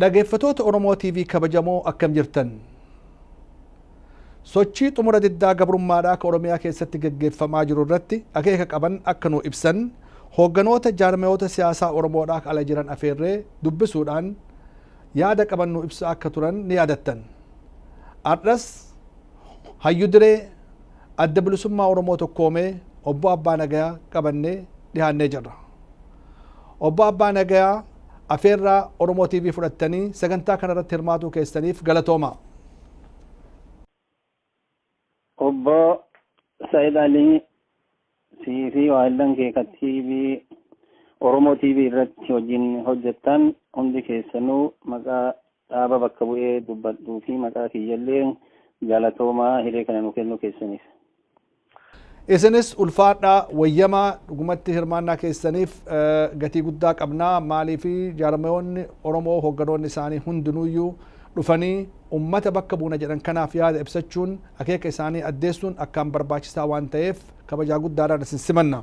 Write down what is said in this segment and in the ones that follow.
Dhageeffatoota Oromoo TV kabajamoo akkam jirtan? Sochii xumura diddaa gabrummaadhaa ka Oromiyaa keessatti geggeeffamaa jiru irratti akeeka qaban akka nuu ibsan hoogganoota jaarmayoota siyaasaa Oromoodhaa ka ala jiran afeerree dubbisuudhaan yaada qaban nuu ibsaa akka turan ni yaadattan. Har'as hayyu diree adda bilisummaa Oromoo tokkoomee obbo Abbaa Nagayaa qabannee dhihaannee jirra. Obbo Abbaa Nagayaa afeerraa Oromoo TV fudhattanii sagantaa kana irratti hirmaatuu keessaniif galatoomaa. Obbo Said Alii sii fi waahillan kee ka TV Oromoo TV irratti hojiin hojjettan hundi keessanuu maqaa dhaaba bakka bu'ee dubbadhuu fi maqaa kiyyallee galatoomaa hiree kana nu kennuu keessaniif. Isinis ulfaadhaa wayyamaa dhugumatti hirmaannaa keessaniif gatii guddaa qabna maaliif jaarmayoonni Oromoo hoogganoonni isaanii hundinuuyyuu dhufanii ummata bakka buuna jedhan kanaaf yaada ibsachuun akeeka isaanii addeessuun akkaan barbaachisaa waan ta'eef kabajaa guddaadhaan isin simanna.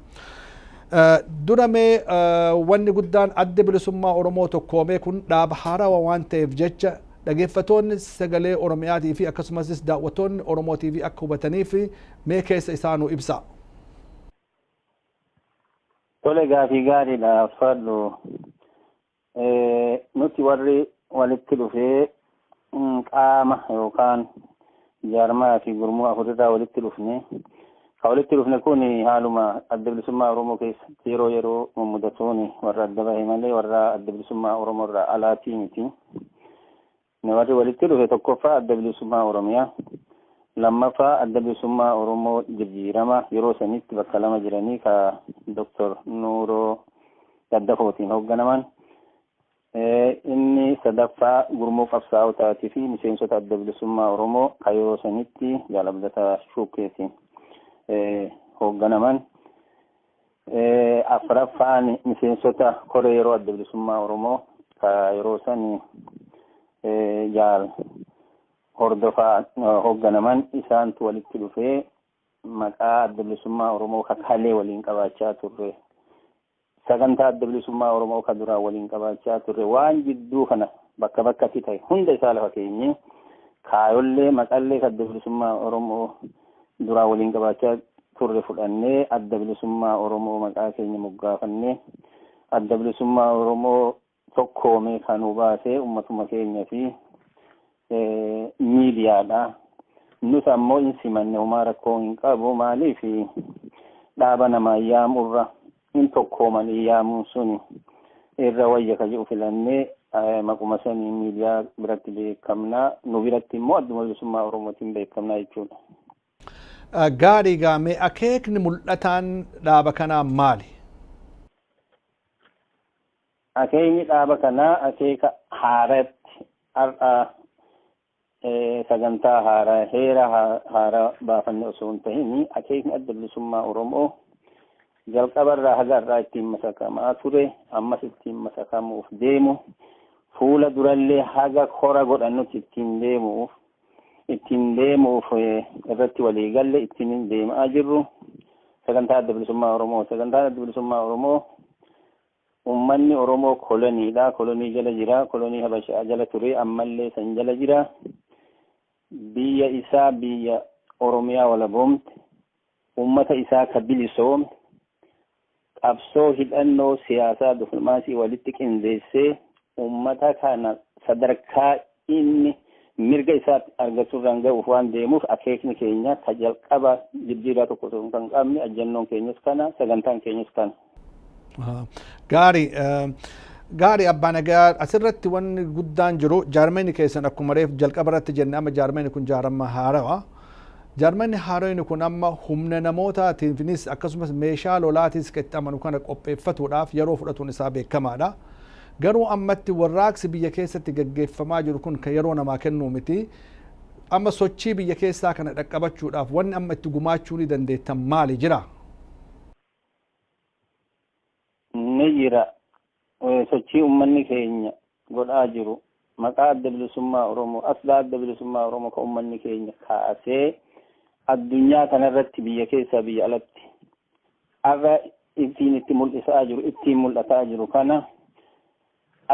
Dura mee wanni guddaan Addi Bilisummaa Oromoo tokkoomee kun dhaaba haarawa waan ta'eef jecha dhageeffatoonni sagalee Oromiyaatii fi akkasumasis daawwattoonni Oromoo TV akka hubataniif mee keessa isaa nu ibsaa. Tole gaafii gaariidha Faadhu. Nuti warri walitti dhufee qaama yookaan jaarmaa fi gurmuu afurirraa walitti dhufne ka walitti dhufne kun haaluma adda bilisummaa Oromoo keessatti yeroo yeroo mummudatuun warra adda bahe malee warra adda bilisummaa Oromoo irraa alaatii miti. Inni warri walitti dhufe tokkoffaa Adda Bilisummaa Oromiyaa, lammaffaa Adda Bilisummaa Oromoo Jirjiirama yeroo sanitti bakka lama jiranii ka Doktor Nuuroo Daddafootiin hoogganaman, inni sadaffaa gurmuu qabsaa'otaatii fi miseensota Adda Bilisummaa Oromoo ka yeroo sanitti Jaal Abdataa Shuukeetiin hoogganaman. Afraffaan miseensota koree yeroo adda bilisummaa Oromoo ka yeroo san jaal hordofaa hoogganaman isaantu walitti dhufee maqaa adda bilisummaa Oromoo ka kalee waliin qabaachaa turre. Sagantaa adda bilisummaa Oromoo ka duraan waliin qabaachaa turre waan jidduu kana bakka bakkatti ta'e hunda isaa lafa keenyee kaayollee maqallee adda bilisummaa Oromoo duraan waliin qabaachaa turre fudhannee adda bilisummaa Oromoo maqaa keenya moggaafannee adda bilisummaa Oromoo tokkoomee kan nu baasee ummatuma keenya fi miidiyaadha. Nus ammoo hin simanne homaa rakkoo hin qabu maaliif dhaaba namaa yaamurra hin tokkoomanii yaamuun suni irra wayya ka jedhu filannee maquma saniin miidiyaa biratti beekamnaa nu biratti immoo adduma bilisummaa oromootiin beekamnaa jechuudha. Gaarii gaamee akeekni mul'ataan dhaaba kanaa maali? Akeekni dhaaba kanaa akeeka haaratti har'a sagantaa haaraa heera haaraa baafanne osoo hin ta'in akeekni adda bilisummaa Oromoo jalqabarraa haga har'aa ittiin masakamaa ture ammas ittiin masakamuuf deemu fuula durallee haga kora godhannutti ittiin deemuuf ittiin deemuuf irratti walii galle ittiin deemaa jirru sagantaa adda bilisummaa Oromoo sagantaa adda bilisummaa Oromoo Ummanni Oromoo kolonii dha, kolonii jala jira, kolonii Habashaa jala ture, ammallee san jala jira. Biyya isaa biyya Oromiyaa walaboomte, ummata isaa ka bilisoome, qabsoo hidhannoo siyaasaa diflomaasii walitti qindeessee ummata kana sadarkaa Inni mirga isaa argachu irraan ga'uuf waan deemuuf akeekni keenya ka jalqabaa jijjiirraa tokko osoo kan qabne ajjannoon keenyas kana sagantaan keenyas kana. Gaarii Gaarii abbaa nagaa asirratti wanni guddaan jiru jaarmeenni keessan akkuma reef jalqaba irratti jenne amma jaarmeenni kun jaarama haarawa. Jaarmeenni haarayni kun amma humna namootaatiinis akkasumas meeshaa lolaatis itti amanu kana qopheeffatuudhaaf yeroo fudhatuun isaa beekamaadha. Garuu ammatti warraaqsi biyya keessatti gaggeeffamaa jiru kun kan yeroo namaa kennuu miti. Amma sochii biyya keessaa kana dhaqqabachuudhaaf wanni amma itti gumaachuu ni dandeettan maali jira? Ni jira. Sochii ummanni keenya godhaa jiru maqaa Adda Bilisummaa Oromoo, asxaa Adda Bilisummaa Oromoo kan ummanni keenya kaasee addunyaa kanarratti biyya keessaa biyya alatti har'a ittiin itti mul'isaa jiru ittiin mul'ataa jiru kana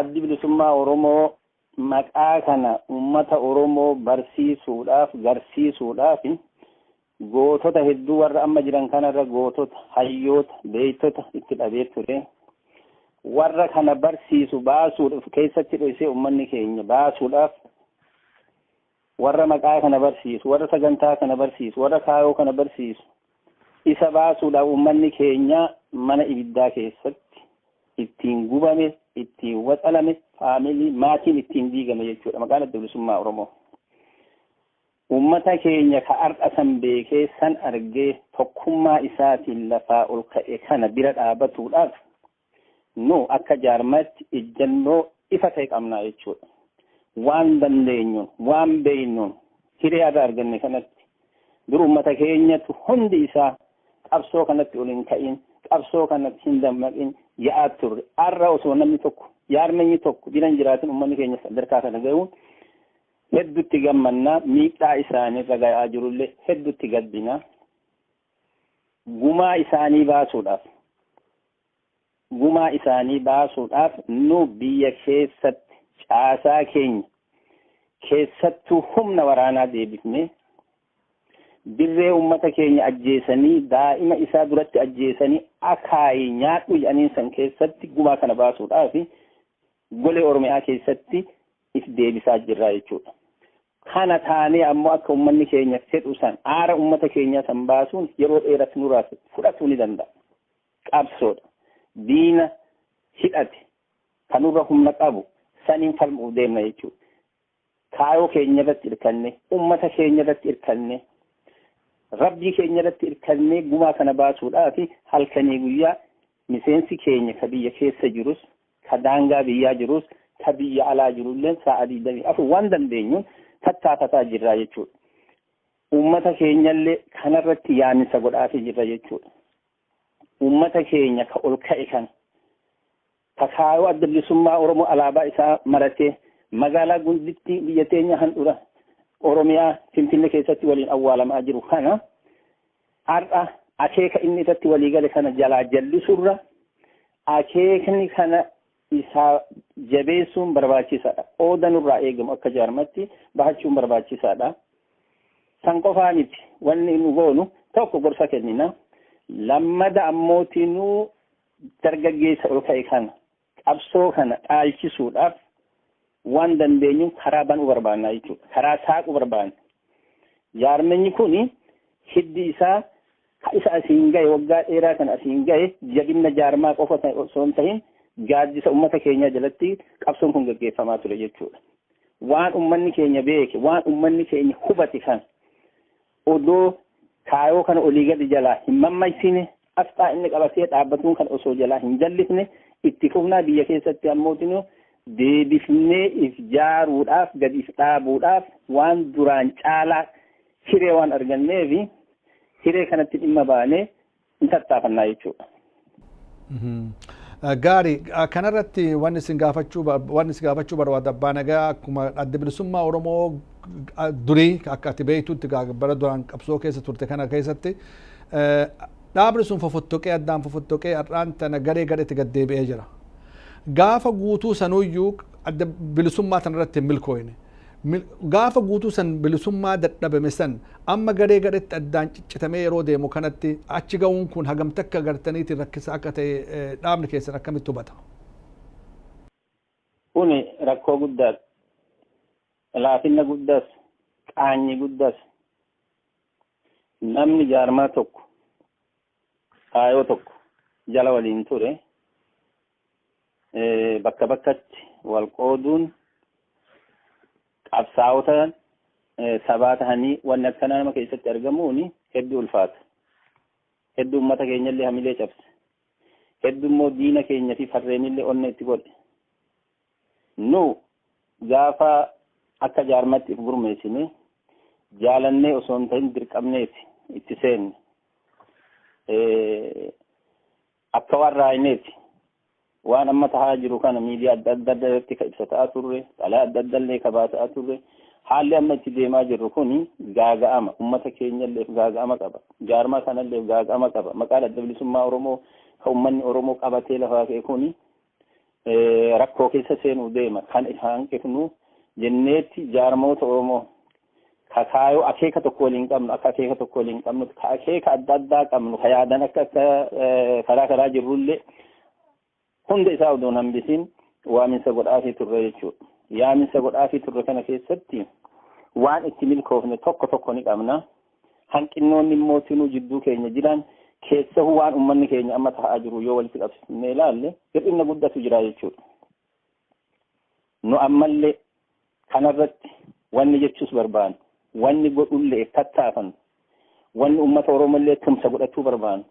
addi bilisummaa Oromoo maqaa kana uummata Oromoo barsiisuudhaaf garsiisuudhaaf gootota hedduu warra amma jiran kanarra gootota hayyoota beektota itti dhabee ture warra kana barsiisu baasuudhaaf keessatti dhoksee uummanni keenya baasuudhaaf Warra maqaa kana barsiisu, warra sagantaa kana barsiisu, warra kaayoo kana barsiisu isa baasuudhaaf uummanni keenya mana ibiddaa keessatti ittiin gubame, ittiin waxalame, faamilii, maatiin ittiin diigame jechuudha maqaan adda bilisummaa Oromoo. Uummata keenya ka har'a san beekee san argee tokkummaa isaatiin lafaa ol ka'e kana bira dhaabatuudhaaf nu akka jaarmaatti ijjannoo ifa ta'e qabnaa jechuudha. Waan dandeenyuun, waan beeynuun hiree har'a arganne kanatti dur uummata keenyatu hundi isaa qabsoo kanatti ol hin ka'iin, qabsoo kanatti hin dammaqin ya'aa turre. Har'a osoo namni tokko, jaarmanyi tokko bira hin jiraatin uummanni keenya sadarkaa kana ga'uun hedduutti gammannaa miidhaa isaaniirra ga'aa jirullee hedduutti gaddinaa. gumaa isaanii baasuudhaaf gumaa isaanii baasuudhaaf nu biyya keessatti caasaa keenya keessattuu humna waraanaa deebifnee dirree ummata keenya ajjeesanii daa'ima isaa duratti ajjeesanii akaayii nyaadhu jedhaniin san keessatti gumaa kana baasuudhaaf golee oromiyaa keessatti if deebisaa jirraa jechuudha. Kana taanee ammoo akka ummanni keenya fedhu san, aara ummata keenyaa san baasuun yeroo dheeras nurraa fudhatuu ni danda'a. Qabsoodha. Diina hidhate, ka nurra humna qabu saniin falmu'uuf deemna jechuudha. Kaayoo keenyarratti irkannee, ummata keenyarratti irkannee, Rabbii keenyarratti irkannee gumaa kana baasuudhaafi halkanii guyyaa miseensi keenya ka biyya keessa jirus, ka daangaa biyyaa jirus ka biyya alaa jirulleen sa'a 24 waan dandeenyuun tattaafataa jirra jechuudha. Uummata keenyallee kanarratti yaaminsa godhaafii jirra jechuudha. Uummata keenya ka ol ka'e kana ka kaayoo adda bilisummaa Oromoo alaabaa isaa maratee magaalaa gundittii biyya teenya handhura Oromiyaa Finfinnee keessatti waliin awwaalamaa jiru kana Har'a akeeka inni irratti walii gale kana jalaa jallisuurra akeekni kana isaa jabeessuun barbaachisaadha. Qooda nurraa eegamu akka jaarmatti bahachuun barbaachisaadha. San qofaa miti wanni nu goonu tokko gorsa kennina. Lammada ammootii nu dargaggeessa ol ka'e kana Qabsoo kana dhaalchisuudhaaf waan dandeenyuun karaa banuu barbaanna jechuudha. Karaa saaquu barbaanna. Jaarmenyi kun hiddi isaa ka isa asiin gahe waggaa dheeraa kana asiin gahe jabinna jaarmaa qofa osoo hin tahin gaaddisa ummata keenyaa jalatti qabsoon kun gaggeeffamaa ture jechuudha. Waan ummanni keenya beeke, waan ummanni keenya hubate kan Odoo kaayoo kana olii gadi jalaa hin mammaysiine, asxaa inni qabatee dhaabbatuun kan osoo jalaa hin jallifne itti fufnaa biyya keessatti ammootinuu deebifnee if jaaruudhaaf, gad if dhaabuudhaaf waan duraan caalaa hiree waan arganneefi hiree kanatti dhimma baanee Ni tattaafannaa jechuudha. Gaarii kanarratti wanni isin gaafachuu wanni isin gaafachuu barbaada abbaa nagaa akkuma adda bilisummaa Oromoo durii akka ati beektutti bara duraan qabsoo keessa turte kana keessatti dhaabni sun fofottoqee addaan fofottoqee har'aan tana garee gareetti gad deebi'ee jira. Gaafa guutuu sanuyyuu adda bilisummaa tanarratti hin milkooyne. Gaafa guutuu san bilisummaa dadhabame san amma garee gareetti addaan ciccitamee yeroo deemu kanatti achi ga'uun kun hagam takka gartaniitiin rakkisaa akka ta'e dhaabni keessan akkamitti hubata? Kuni rakkoo guddaas, laafinna guddaas, qaanyi guddaas namni jaarmaa tokko kaayoo tokko jala waliin ture bakka bakkatti wal qooduun qabsaa'ota sabaa tahanii wanni akkanaa nama keessatti argamuun hedduu ulfaata. Hedduu uummata keenyallee hamilee cabse. Hedduu immoo diina keenya fi farreenillee onnee itti godhe. Nu gaafa akka jaarmatti if gurmeessine jaalannee osoo hin ta'in dirqamneeti itti seenne. Akka waan raaymeeti. Waan amma tahaa jiru kana miidiyaa adda adda adda irratti ka ibsataa turre, xalaa adda adda illee ka baasaa turre. Haalli amma itti deemaa jirru kuni gaaga'ama. Ummata keenya illeef gaaga'ama qaba. Jaarmaa kana illeef gaaga'ama qaba. Maqaan adda bilisummaa Oromoo ka ummanni Oromoo qabatee lafaa ka'e kuni rakkoo keessa seenuu deema kan isa hanqifnu jenneetti jaarmoota Oromoo kakaayoo akeeka tokko waliin qabnu akka akeeka tokko waliin qabnu ka akeeka adda addaa qabnu ka yaadan akka akka karaa karaa jirrullee hunda isaa odoon hambisiin waaminsa godhaafii turre jechuudha. Yaaminsa godhaafii turre kana keessatti waan itti milkoofne tokko tokko ni qabna. Hanqinnoonni immoo tinuu jidduu keenya jiran keessahuu waan ummanni keenya amma ta'aa jiru yoo walitti qabsiisnee ilaalle hir'inna guddatu jira jechuudha. Nu ammallee kanarratti wanni jechuus barbaannu, wanni godhullee tattaafannu, wanni ummata Oromollee tumsa godhachuu barbaannu,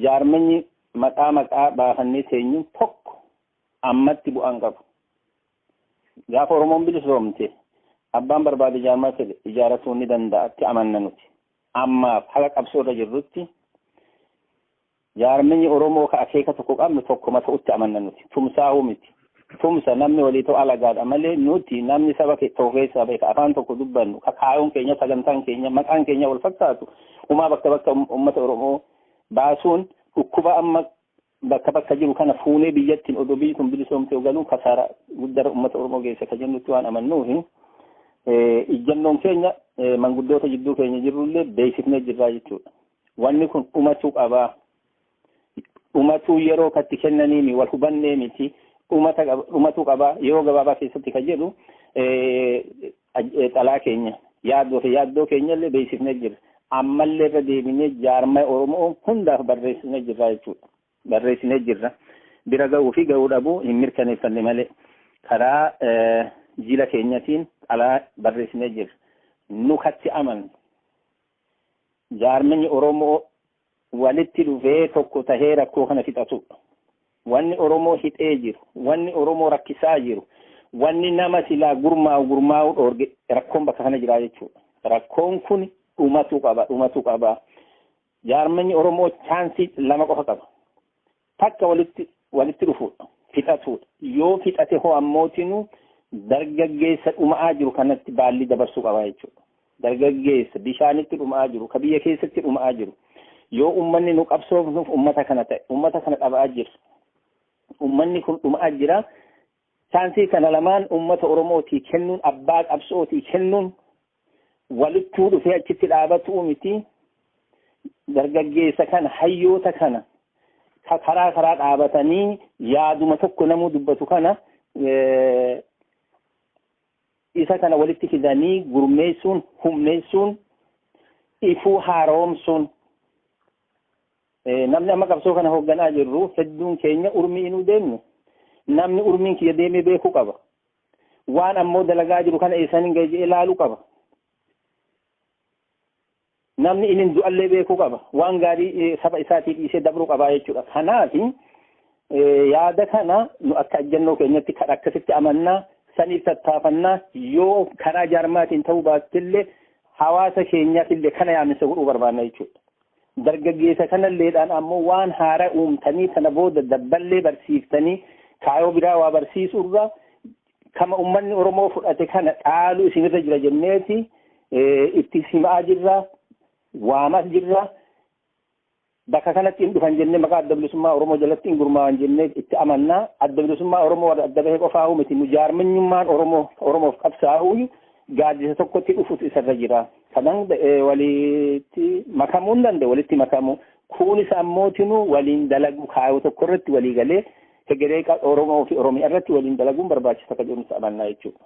jaarmanyi maqaa maqaa baafannee teenyuun tokko ammatti bu'aan qabu. Gaafa Oromoon bilisoomte abbaan barbaade jaarmaa fedhe ijaaratuu ni danda'atti amanna nuti. Ammaaf haga qabsoo irra jirrutti jaarminyi Oromoo ka akeeka tokko qabnu tokkuma ta'utti amanna nuti. Tumsaahuu miti. Tumsa namni walii ta'u alagaadha malee nuti namni saba tokko keessaa bahe ka afaan tokko dubbannu ka kaayoon keenya sagantaan keenya maqaan keenya wal fakkaatu umaa bakka bakka uummata Oromoo baasuun dhukkuba amma bakka bakka jiru kana fuunee biyyattiin odoo biyyi kun bilisoomtee ogaluun kasaara guddara uummata Oromoo geessa ka jennutti waan amannuufi ijjannoon keenya manguddoota jidduu keenya jirrullee beeksifnee jirraa jechuudha. Wanni kun dhumachuu qabaa. Dhumatuu yeroo katti kennaniimi wal hubannee miti. Dhumatuu qabaa yeroo gabaabaa keessatti kan jedhu Xalaa keenya, yaadoo fi yaaddoo keenyallee beeksifnee jirra. Ammallee irra deebinee jaarmaya Oromoo hundaaf barreessinee jirra jechuudha. Barreessinee jirra. Bira gahuu fi gahuu dhabuu hin mirkaneeffanne malee karaa jila keenyatiin xalaa barreessinee jirra. Nu katti amanne jaarmanyi Oromoo walitti dhufee tokko tahee rakkoo kana fixatuudha. Wanni Oromoo hidhee jiru, wanni Oromoo rakkisaa jiru, wanni nama silaa gurmaa'u gurmaa'u dhoorge rakkoon bakka kana jira jechuudha. Rakkoon kun dhumatu qaba, dhumatu qaba. Jaarmanni Oromoo chaansii lama qofa qaba. Takka walitti walitti dhufuudha. Fixatuudha. Yoo fixate hoo ammootinuu dargaggeessa dhuma'aa jiru kanatti baallii dabarsuu qaba jechuudha. Dargaggeessa bishaanitti dhuma'aa jiru, ka biyya keessatti dhuma'aa jiru. Yoo ummanni nu qabsoofnuuf ummata kana ta'e, ummata kana dhaba'aa jira. Ummanni kun dhuma'aa jira. Chaansii kana lamaan ummata Oromootii kennuun, abbaa qabsootii kennuun walittuu dhufee achitti dhaabatuu miti dargaggeessa kana hayyoota kana ka- karaa karaa dhaabatanii yaaduma tokko namuu dubbatu kana eh, isa kana walitti fidanii gurmeessuun humneessuun ifuu haaromsuun Eh, namni amma qabsoo kana hoogganaa jirru hedduun keenya urmii inuu deemnu namni urmiin kiyya deemee beekuu qaba waan ammoo dalagaa jiru kana eessan hin gahe ilaaluu qaba. Namni inni du'allee beekuu qaba. Waan gaarii saba isaatii dhiisee dabruu qaba jechuudha. Kanaaf yaada kana nu akka ajjannoo keenyatti kan akkasitti amannaa saniif tattaafannaa yoo karaa jaarmaatiin ta'uu baattillee hawaasa keenyaaf illee kana yaaminsa godhuu barbaanna jechuudha. Dargaggeessa kanalleedhaan ammoo waan haara uumtanii tana booda dabballee barsiiftanii kaayoo biraa waa barsiisuurra kama ummanni Oromoo fudhate kana dhaalu isinirra jira jenneeti itti simaa jirra waamas jirra bakka kanatti hin dhufan jennee maqaa adda bilisummaa Oromoo jalatti hin gurmaa'an jennee itti amannaa adda bilisummaa Oromoo warra adda bahee qofaa miti nu jaarmanyummaan Oromoo Oromoof qabsaa'uu gaaddisa tokkotti dhufutu isarra jira. Kana hunda walitti makamuu hin danda'u walitti makamuu. Kunis ammootinuu waliin dalaguu kaayoo tokko irratti walii galee hegeree Oromoo fi Oromiyaa irratti waliin dalaguun barbaachisa akka jedhu amannaa jechuudha.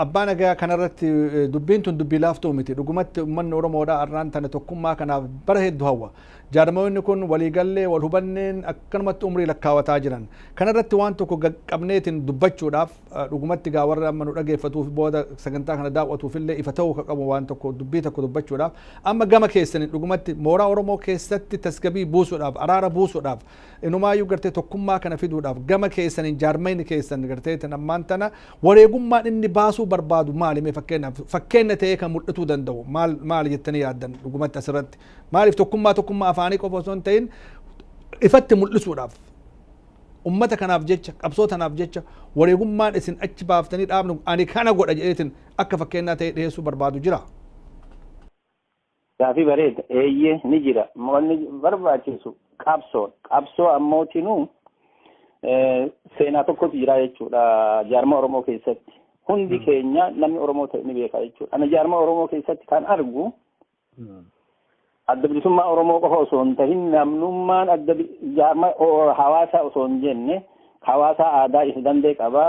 Abbaa nagaa kanarratti dubbiin tun dubbii laaftuu miti. Dhugumatti uummanni Oromoodhaa har'aan tana tokkummaa kanaaf bara hedduu hawwa. Jaarmayoonni kun waliigallee wal hubanneen akkanumatti umrii lakkaawataa jiran. Kanarratti waan tokko qabneetiin dubbachuudhaaf Dhugumatti egaa warra amma nu dhageeffatuuf booda sagantaa kana daawwatuuf illee ifa ta'uu ka qabu waan tokko dubbii tokko dubbachuudhaaf amma gama keessaniin dhugumatti mooraa Oromoo keessatti tasgabii buusuudhaaf araara buusuudhaaf inumaayyuu gartee tokkummaa kana fiduudhaaf gama keessaniin jaarmayni keessan gartee tan ammaan tana wareegummaan inni baasuu barbaadu maali mee fakkeenyaaf fakkeenya ta'ee kan mul'atuu danda'u maal maali jettanii yaaddan dhugumatti asirratti maaliif tokkummaa tokkummaa afaanii qofa osoo hin ta'in ifatti mul'isuudhaaf Ummata kanaaf jecha, qabsoo tanaaf jecha wareegummaan isin achi baaftanii dhaabni ani kana godha jedheetin akka fakkeennaa ta'ee dhiheessuu barbaadu jiraa? Gaafii bareeda. Eeyyee ni jira. Wanni barbaachisu qabsoodha. Qabsoo ammootinuu seenaa tokkotu jira jechuudha jaarmaa Oromoo keessatti. Hundi keenya namni Oromoo ta'e ni beeka jechuudha. Ana jaarmaa Oromoo keessatti kan argu Adda bilisummaa Oromoo qofa osoo hin tahin namnummaan adda jaarma hawaasaa osoo hin jenne hawaasaa aadaa is dandee qaba,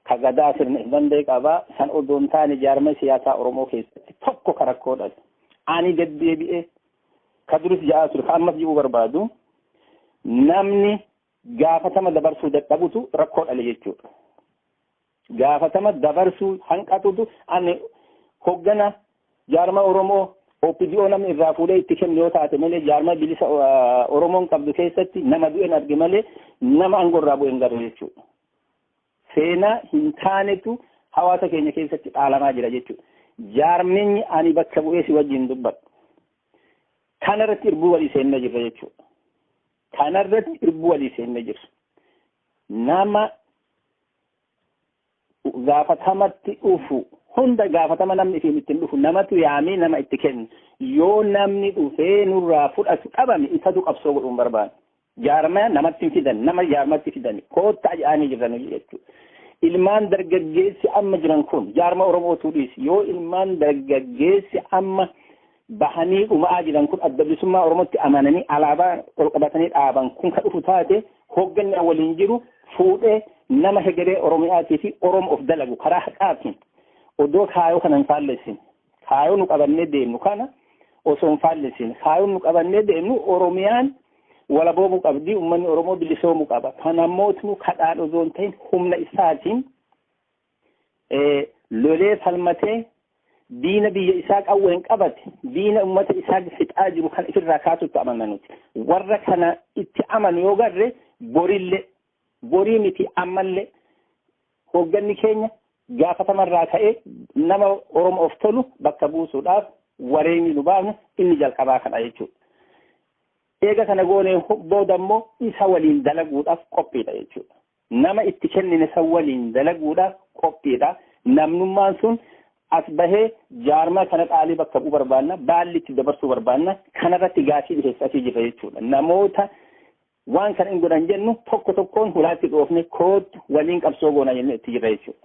ka gadaa sirna is dandee qaba, san odoo hin taane jaarma siyaasaa Oromoo keessatti tokko ka rakkoo dhabe. Ani deddeebi'ee ka duris ja'aa ture, ka ammas ji'uu barbaadu namni gaafatama dabarsuu dadhabutu rakkoo dhale jechuudha. gaafatama dabarsuu hanqatutu ani hoggana jaarma Oromoo OPDO namni irraa fuudhee itti kennu yoo taate malee jaarma bilisa ah, Oromoon qabdu keessatti nama du'een arge malee nama aangoo irraa bu'een garuu jechuudha. Seenaa hin taanetu hawaasa keenya keessatti dhaalamaa jira jechuudha. Jaarminyi ani bakka bu'ee si wajjin dubbadhu. Kana irratti irbuu walii seennee jirra jechuudha. Kana irratti irbuu walii seennee jirra. Nama gaafatamatti dhufu hunda gaafatama namni isiin ittiin dhufu namatu yaamee nama itti kennu yoo namni dhufee nurraa fudhatu dhabame isatu qabsoo godhuun barbaadu. Jaarmaya namatti hin fidan nama jaarmatti fidani koottaa jedhanii jiran jechuudha. Ilmaan dargaggeessi amma jiran kun jaarma Oromootuu dhiisi yoo ilmaan dargaggeessi amma bahanii dhuma'aa jiran kun adda bilisummaa Oromootti amananii alaabaa ol qabatanii dhaaban kun ka dhufu taate hoogganni an waliin jiru fuudhee nama hegeree Oromiyaatii fi Oromoo of dalagu karaa haqaatiin odoo kaayoo kana hin faallessin kaayoo nu qabannee deemnu kana osoo hin faallessin kaayoo nu qabannee deemnu Oromiyaan walaboomuu qabdi uummanni Oromoo bilisoomuu qaba. Kana mootnu kadhaan osoo hin ta'in humna isaatiin lolee falmatee diina biyya isaa qawween qabate diina ummata isaa fixaa jiru kan ifirraa kaasutti amanna nuti warra kana itti amanu yoo garre borille borii miti ammallee hoogganni keenya gaafatamarraa ka'ee nama oromoof tolu bakka buusuudhaaf wareegni nu baafne inni jalqabaa kana jechuudha. Eega kana goonee booda immoo isa waliin dalaguudhaaf qophiidha jechuudha. Nama itti kennine san waliin dalaguudhaaf qophiidha. Namnummaan sun as bahee jaarmaa kana dhaalee bakka bu'u barbaanna, baalli itti dabarsuu barbaanna. Kanarratti gaafii dhiheessa asii jirra jechuudha. Namoota waan kana hin godhan jennu tokko tokkoon hulaatti dhoofne koottu waliin qabsoo goona jennee itti jirra jechuudha.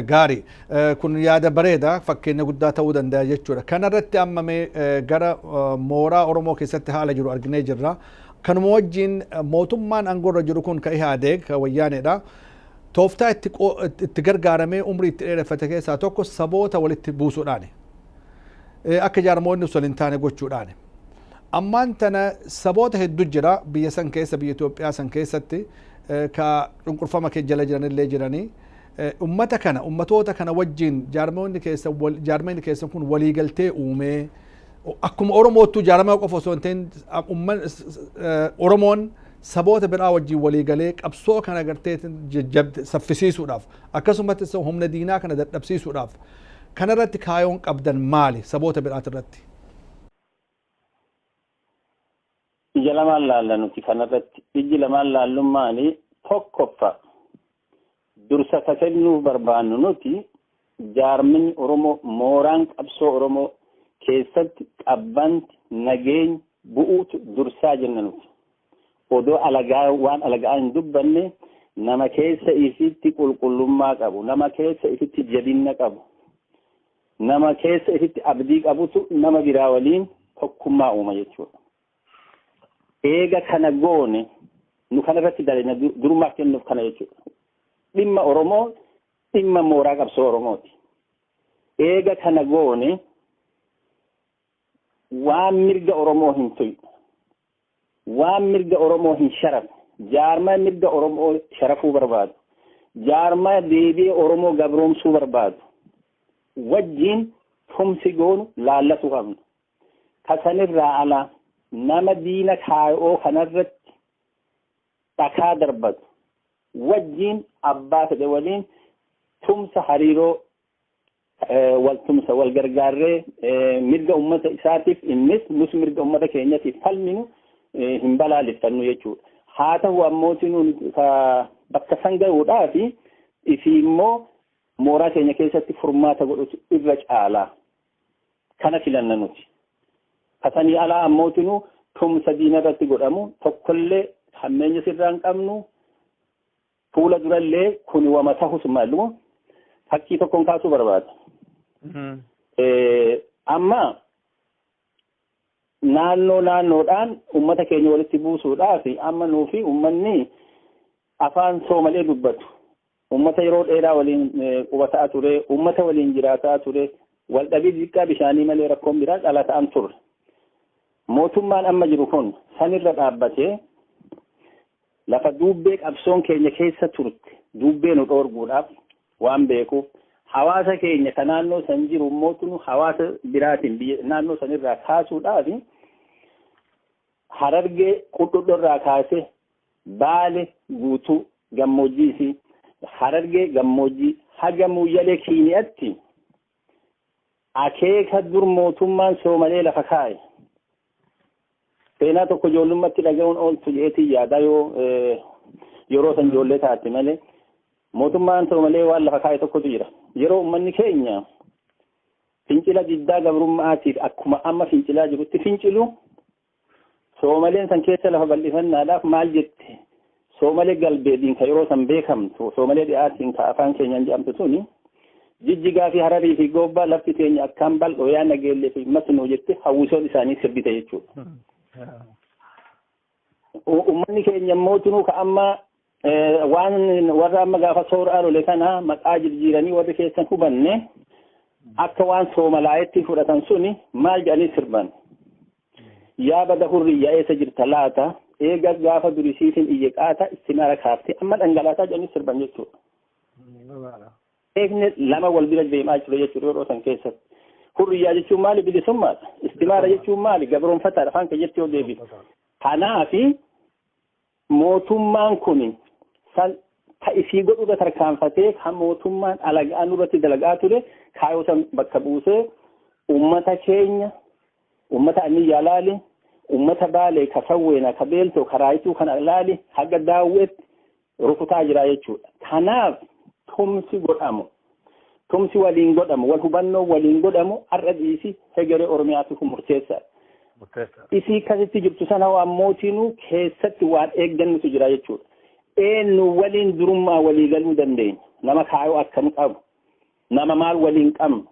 Gaarii. Kun yaada bareeda fakkeenya guddaa ta'uu danda'a jechuudha. Kana irratti amma mee gara mooraa Oromoo keessatti haala jiru arginee jirra. Kanuma wajjin mootummaan aangoo irra jiru kun ka Ihaadeeg ka wayyaaneedha. Tooftaa itti gargaaramee umrii itti dheereffate keessaa tokko saboota walitti buusuudhaani. akka jaarmoonni osoo hin taane gochuudhaani. Ammaan tana saboota heddu jira biyya san keessa biyya Itoophiyaa san keessatti ka cunqurfama kee jala jiran illee jiranii. Ummata kana ummatoota kana wajjin jaarmoonni keessan jaarmoonni keessan kun waliigaltee uumee akkuma Oromoottuu jaaramaa qofa osoo hin ta'in Oromoon saboota biraa wajjin waliigalee qabsoo kana gartee saffisiisuudhaaf akkasumas humna diinaa kana dadhabsiisuudhaaf Kana irratti kaayoon qabdan maali saboota biraati irratti? Ija lamaan laalla nuti kana irratti. Ijji lamaan laallun maali? Tokkoffa dursa ka kennuuf barbaannu nuti jaarminni Oromoo mooraan qabsoo Oromoo keessatti qabbanti, nageenyi bu'uutu dursaa jenna nuti. Odoo alagaa waan alagaa hin dubbanne nama keessa ifitti qulqullummaa qabu, nama keessa ifitti jabinna qabu, nama keessa ifitti abdii qabutu nama biraa waliin tokkummaa uuma jechuudha. Eega kana goone nu kana irratti dalina durummaa kennuuf kana jechuudha. Dhimma Oromoo dhimma mooraa qabsoo Oromooti. Eega kana goone waan mirga Oromoo hin tuyne waan mirga Oromoo hin sharafne, jaarmaya mirga Oromoo sharafuu barbaadu, jaarmaya deebi'ee Oromoo gabroomsuu barbaadu wajjiin tumsi goonu laallasuu qabna. Ka sanirraa ala nama diina kaayoo kanarratti dhakaa darbatu wajjiin abbaa fedhe waliin tumsa hariiroo waltumsa wal gargaarree mirga ummata isaatiif innis nus mirga ummata keenyatiif falminu hin balaaleffannu jechuudha. Haa ta'u ammooti nuun bakka san ga'uudhaa fi isii immoo mooraa keenya keessatti furmaata godhutu irra caalaa kana filanna nuti. Kasanii alaa ammooti nu tumsa diina irratti godhamu tokkollee hammeenya sirraa hin qabnu Fuula durallee kun wama tahus maaluma fakkii tokkoon kaasuu barbaada. Amma naannoo naannoodhaan uummata keenya walitti buusuudhaaf amma nuufi uummanni afaan soomalee dubbatu uummata yeroo dheeraa waliin qubataa ture uummata waliin jiraataa ture waldhabii xiqqaa bishaanii malee rakkoon biraa dhala ta'an turre. Mootummaan amma jiru kun sanirra dhaabbatee Lafa duubbee qabsoon keenya keessa turte duubbee nu dhoorguudhaaf waan beekuuf hawaasa keenya ka naannoo san jiru mootunu hawaasa biraatiin biyya naannoo san irraa kaasuudhaaf harargee qudhudho irraa kaasee baale guutuu gammoojjii isii harargee gammoojjii haga muuyyalee kiini'atti Akeeka dur mootummaan Soomalee lafa kaa'e seenaa tokko ijoollummatti dhaga'uun ooltu jedheetiin yaadaa yoo yeroo san ijoollee taate malee mootummaan Soomalee waan lafa kaa'e tokkotu jira. Yeroo uummanni keenya fincila diddaa gabrummaatiif akkuma amma fincilaa jirutti fincilu Soomaleen san keessa lafa bal'ifannaadhaaf maal jette? Soomalee galbeedhiin ka yeroo san beekamtu, soomalee dhiyaatiin ka afaan keenyaan jedhamtu tuni, jijjigaa fi hararii fi goobbaa lafti teenya akkaan bal'oo yaa nageellee fi masnuu jette hawwisoon isaanii sirbite jechuudha. Uummanni keenya immoo tunuu ka amma Waan warra amma gaafa soora arole kana maqaa jirjiiranii warri keessan hubanne akka waan soomalaa'etti fudhatan suni maal jedhanii sirban. Yaa bada hurriyyaa eessa jirta laata eega gaafa durisiitiin iyye qaata istimara kaafte amma dhangalaasaa jedhanii sirban jechuudha. Eegni lama wal bira deemaa jiru jechuudha yeroo san keessatti. Hurriyyaa jechuun maali bilisummaadha. Istimaara jechuun maali gabroonfataadha afaan keessatti yoo deebisu. Kanaafi Mootummaan kun san ka isii godhu irra tarkaanfatee ka mootummaan alaga'aa nurratti dalagaa ture kaayoo san bakka buusee ummata keenya ummata anniyyaa laali ummata baalee ka sawweena ka beeltoo ka raayituu kana laali haga daawweetti rukutaa jira jechuudha. Kanaaf tumsi godhamu Tumsi waliin godhamu, wal hubannoon waliin godhamu har'a dhiisi hegeree Oromiyaatiif murteessaadha. Murteessaa. Isii kasitti jirtu sana hoo ammootiinuu keessatti waan eeggannutu jira jechuudha. Eenyu waliin durummaa walii galuu dandeenya? Nama kaayoo akkam qabu? Nama maal waliin qabnu?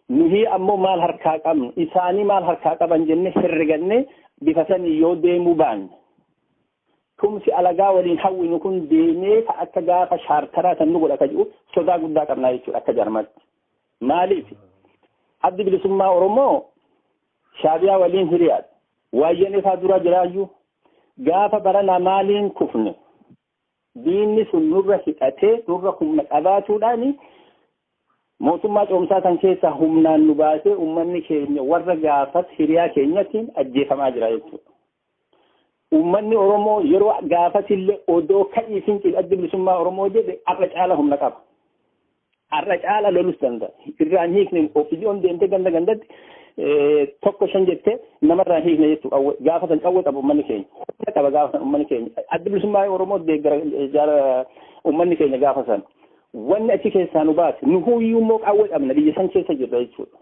Nuhi ammoo maal harkaa qabnu? Isaanii maal harkaa qaban jennee herregannee bifa sanii yoo deemuu baanne Tumsi alagaa waliin hawwinu kun deemee ka akka gaafa chaartaraa san nu godha ka jedhu sodaa guddaa qabnaa jechuudha akka jaarmaatti. Maaliif? Addi bilisummaa Oromoo shaabiyaa waliin hiriyaadha. Waayyanee faa dura jiraayyuu gaafa baranaa maaliin kufne diinni sun nurra hidhatee nurra humna qabaatuudhaani mootummaa coomsaa san keessaa humnaan nu baasee uummanni keenya warra gaafas hiriyaa keenyatiin ajjeefamaa jira jechuudha. Uummanni Oromoo yeroo gaafasillee odoo ka'ii fincil addi bilisummaa Oromoo jedhe har'a caala humna qaba. Har'a caala lolus danda'a. Irraan hiikne ofiijoon deemtee ganda gandatti tokko shan jettee namarraan hiikne jechuudha. Qawwee gaafa san qawwee qaba uummanni keenya. Humna qaba gaafa san uummanni keenya. Addi bilisummaa Oromoo deeggara jaara uummanni keenya gaafa san. Wanni achi keessaa nu baase nu huyyuu immoo qawwee qabna biyya san keessa jirra jechuudha.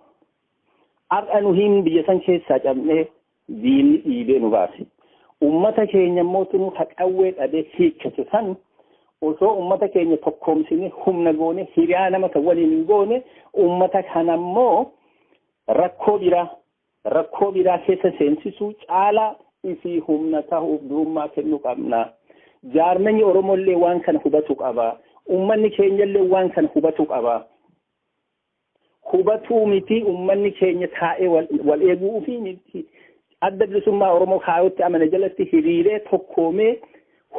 Har'a nu hin biyya san keessaa cabnee Diinni dhiibee nu baase. Ummata keenya immoo tunuu ka qawwee dhabee hiikkatu san osoo ummata keenya tokkoomsine humna goone hiriyaa nama kan waliin hin goone ummata kana immoo rakkoo biraa rakkoo biraa keessa seensisuu caalaa ifii humna tahuuf durummaa kennuu qabna. Jaarmanyi Oromoo illee waan kana hubatu qaba. Ummanni keenya illee waan kana hubatu qaba. hubatuu mitii ummanni keenya taa'ee wal eeguu fi miti adda bilisummaa Oromoo kaayootti amane jalatti hiriiree tokkoomee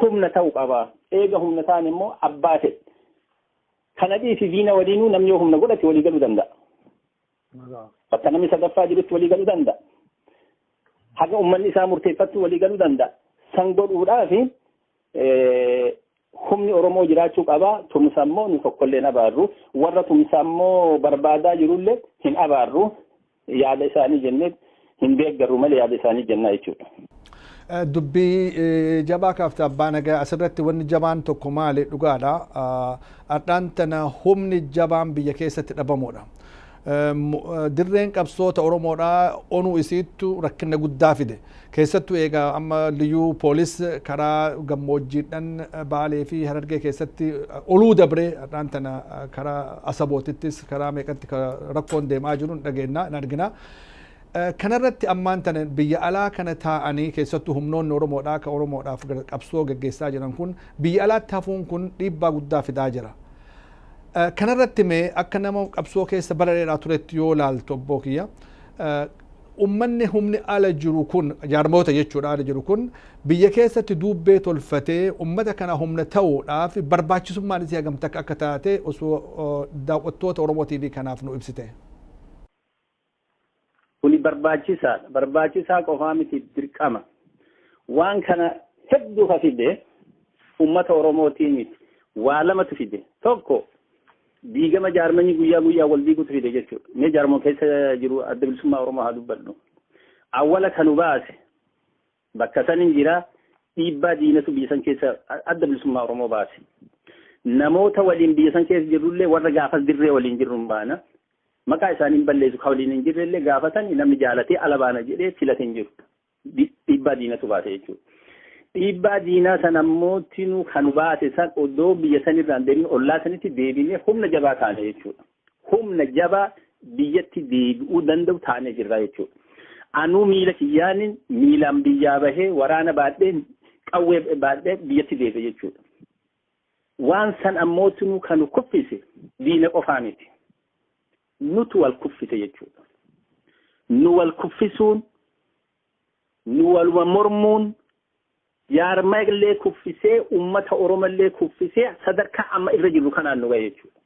humna ta'u qaba. Eega humna ta'an immoo abbaa ta'e. Kana dhiisi diina waliinuu namni yoo humna godhate walii galuu danda'a. Bakka namni sadaffaa jirutti walii galuu danda'a. Haga ummanni isaa murteeffattu walii galuu danda'a. San godhuudhaaf humni Oromoo jiraachuu qaba. Tumsa immoo nu tokkollee hin abaarru. Warra tumsa immoo barbaadaa jirullee hin abaarru. Yaada isaanii jennee hin deeggarru malee yaada isaanii jennaa jechuudha. Dubbii jabaa kaafte abbaa nagaa asirratti wanni jabaan tokko maali dhugaadha. Ardhaan tana humni jabaan biyya keessatti dhabamuudha. Dirreen qabsoo ta Oromoodhaa onuu isiittu rakkinna guddaa fide. Keessattuu eega amma Liyyuu Poolis karaa gammoojjiidhan Baalee fi Harargee keessatti oluu dabree hadhaan tana karaa Asabootittis karaa meeqatti ka rakkoon deemaa jiru hin dhageenna, hin argina. Kanarratti ammaan tana biyya alaa kana taa'anii keessattuu humnoonni Oromoodhaa ka Oromoodhaaf qabsoo geggeessaa jiran kun biyya alaatti hafuun kun dhiibbaa guddaa fidaa jira. Kana irratti mee akka nama qabsoo keessa bara dheeraa turetti yoo laaltu obboo kiyya ummanni humni ala jiru kun jaarmoota jechuudha ala jiru kun biyya keessatti duubbee tolfatee ummata kana humna ta'uudhaaf barbaachisummaan isii hagam takka akka taate osoo daawwattoota Oromoo TV kanaaf nu ibsite. Kuni barbaachisaadha. Barbaachisaa qofaa miti dirqama. Waan kana hedduu ka fide uummata Oromootii miti. Waa lamatu fide. Tokko diigama jaarmanii guyyaa guyyaa wal diigutu fide jechuudha. Mee jaarmoo keessa jiru adda bilisummaa Oromoo haa dubbadhu. Awwala kanu baase Bakka san hin jira dhiibbaa diinatu biyya san keessa adda bilisummaa Oromoo baase. Namoota waliin biyya san keessa jirrullee warra gaafas dirree waliin jirru hin baana. Maqaa isaanii hin balleessu kan waliin hin jirrellee gaafatan namni jaalatee ala baana jedhee filate hin jiru. Dhiibbaa diinatu baase jechuudha. Dhiibbaa diinaa san ammoo tinuu kan baase san odoo biyya sanirraan deebiin ollaa sanitti deebinee humna jabaa taane jechuudha. humna jabaa biyyatti deebi'uu danda'u taanee jirra jechuudha. Anuu miila kiyyaanin miilaan biyyaa bahee waraana baadhee qawwee baadhee biyyatti deebi'e jechuudha. Waan san ammootinuu kan kuffise diina qofaa miti. Nutu wal kuffise jechuudha. Nu wal kuffisuun, nu waluma mormuun, Jaarmayallee kuffisee, ummata Oromallee kuffisee sadarkaa amma irra jirru kanaan nu gahe jechuudha.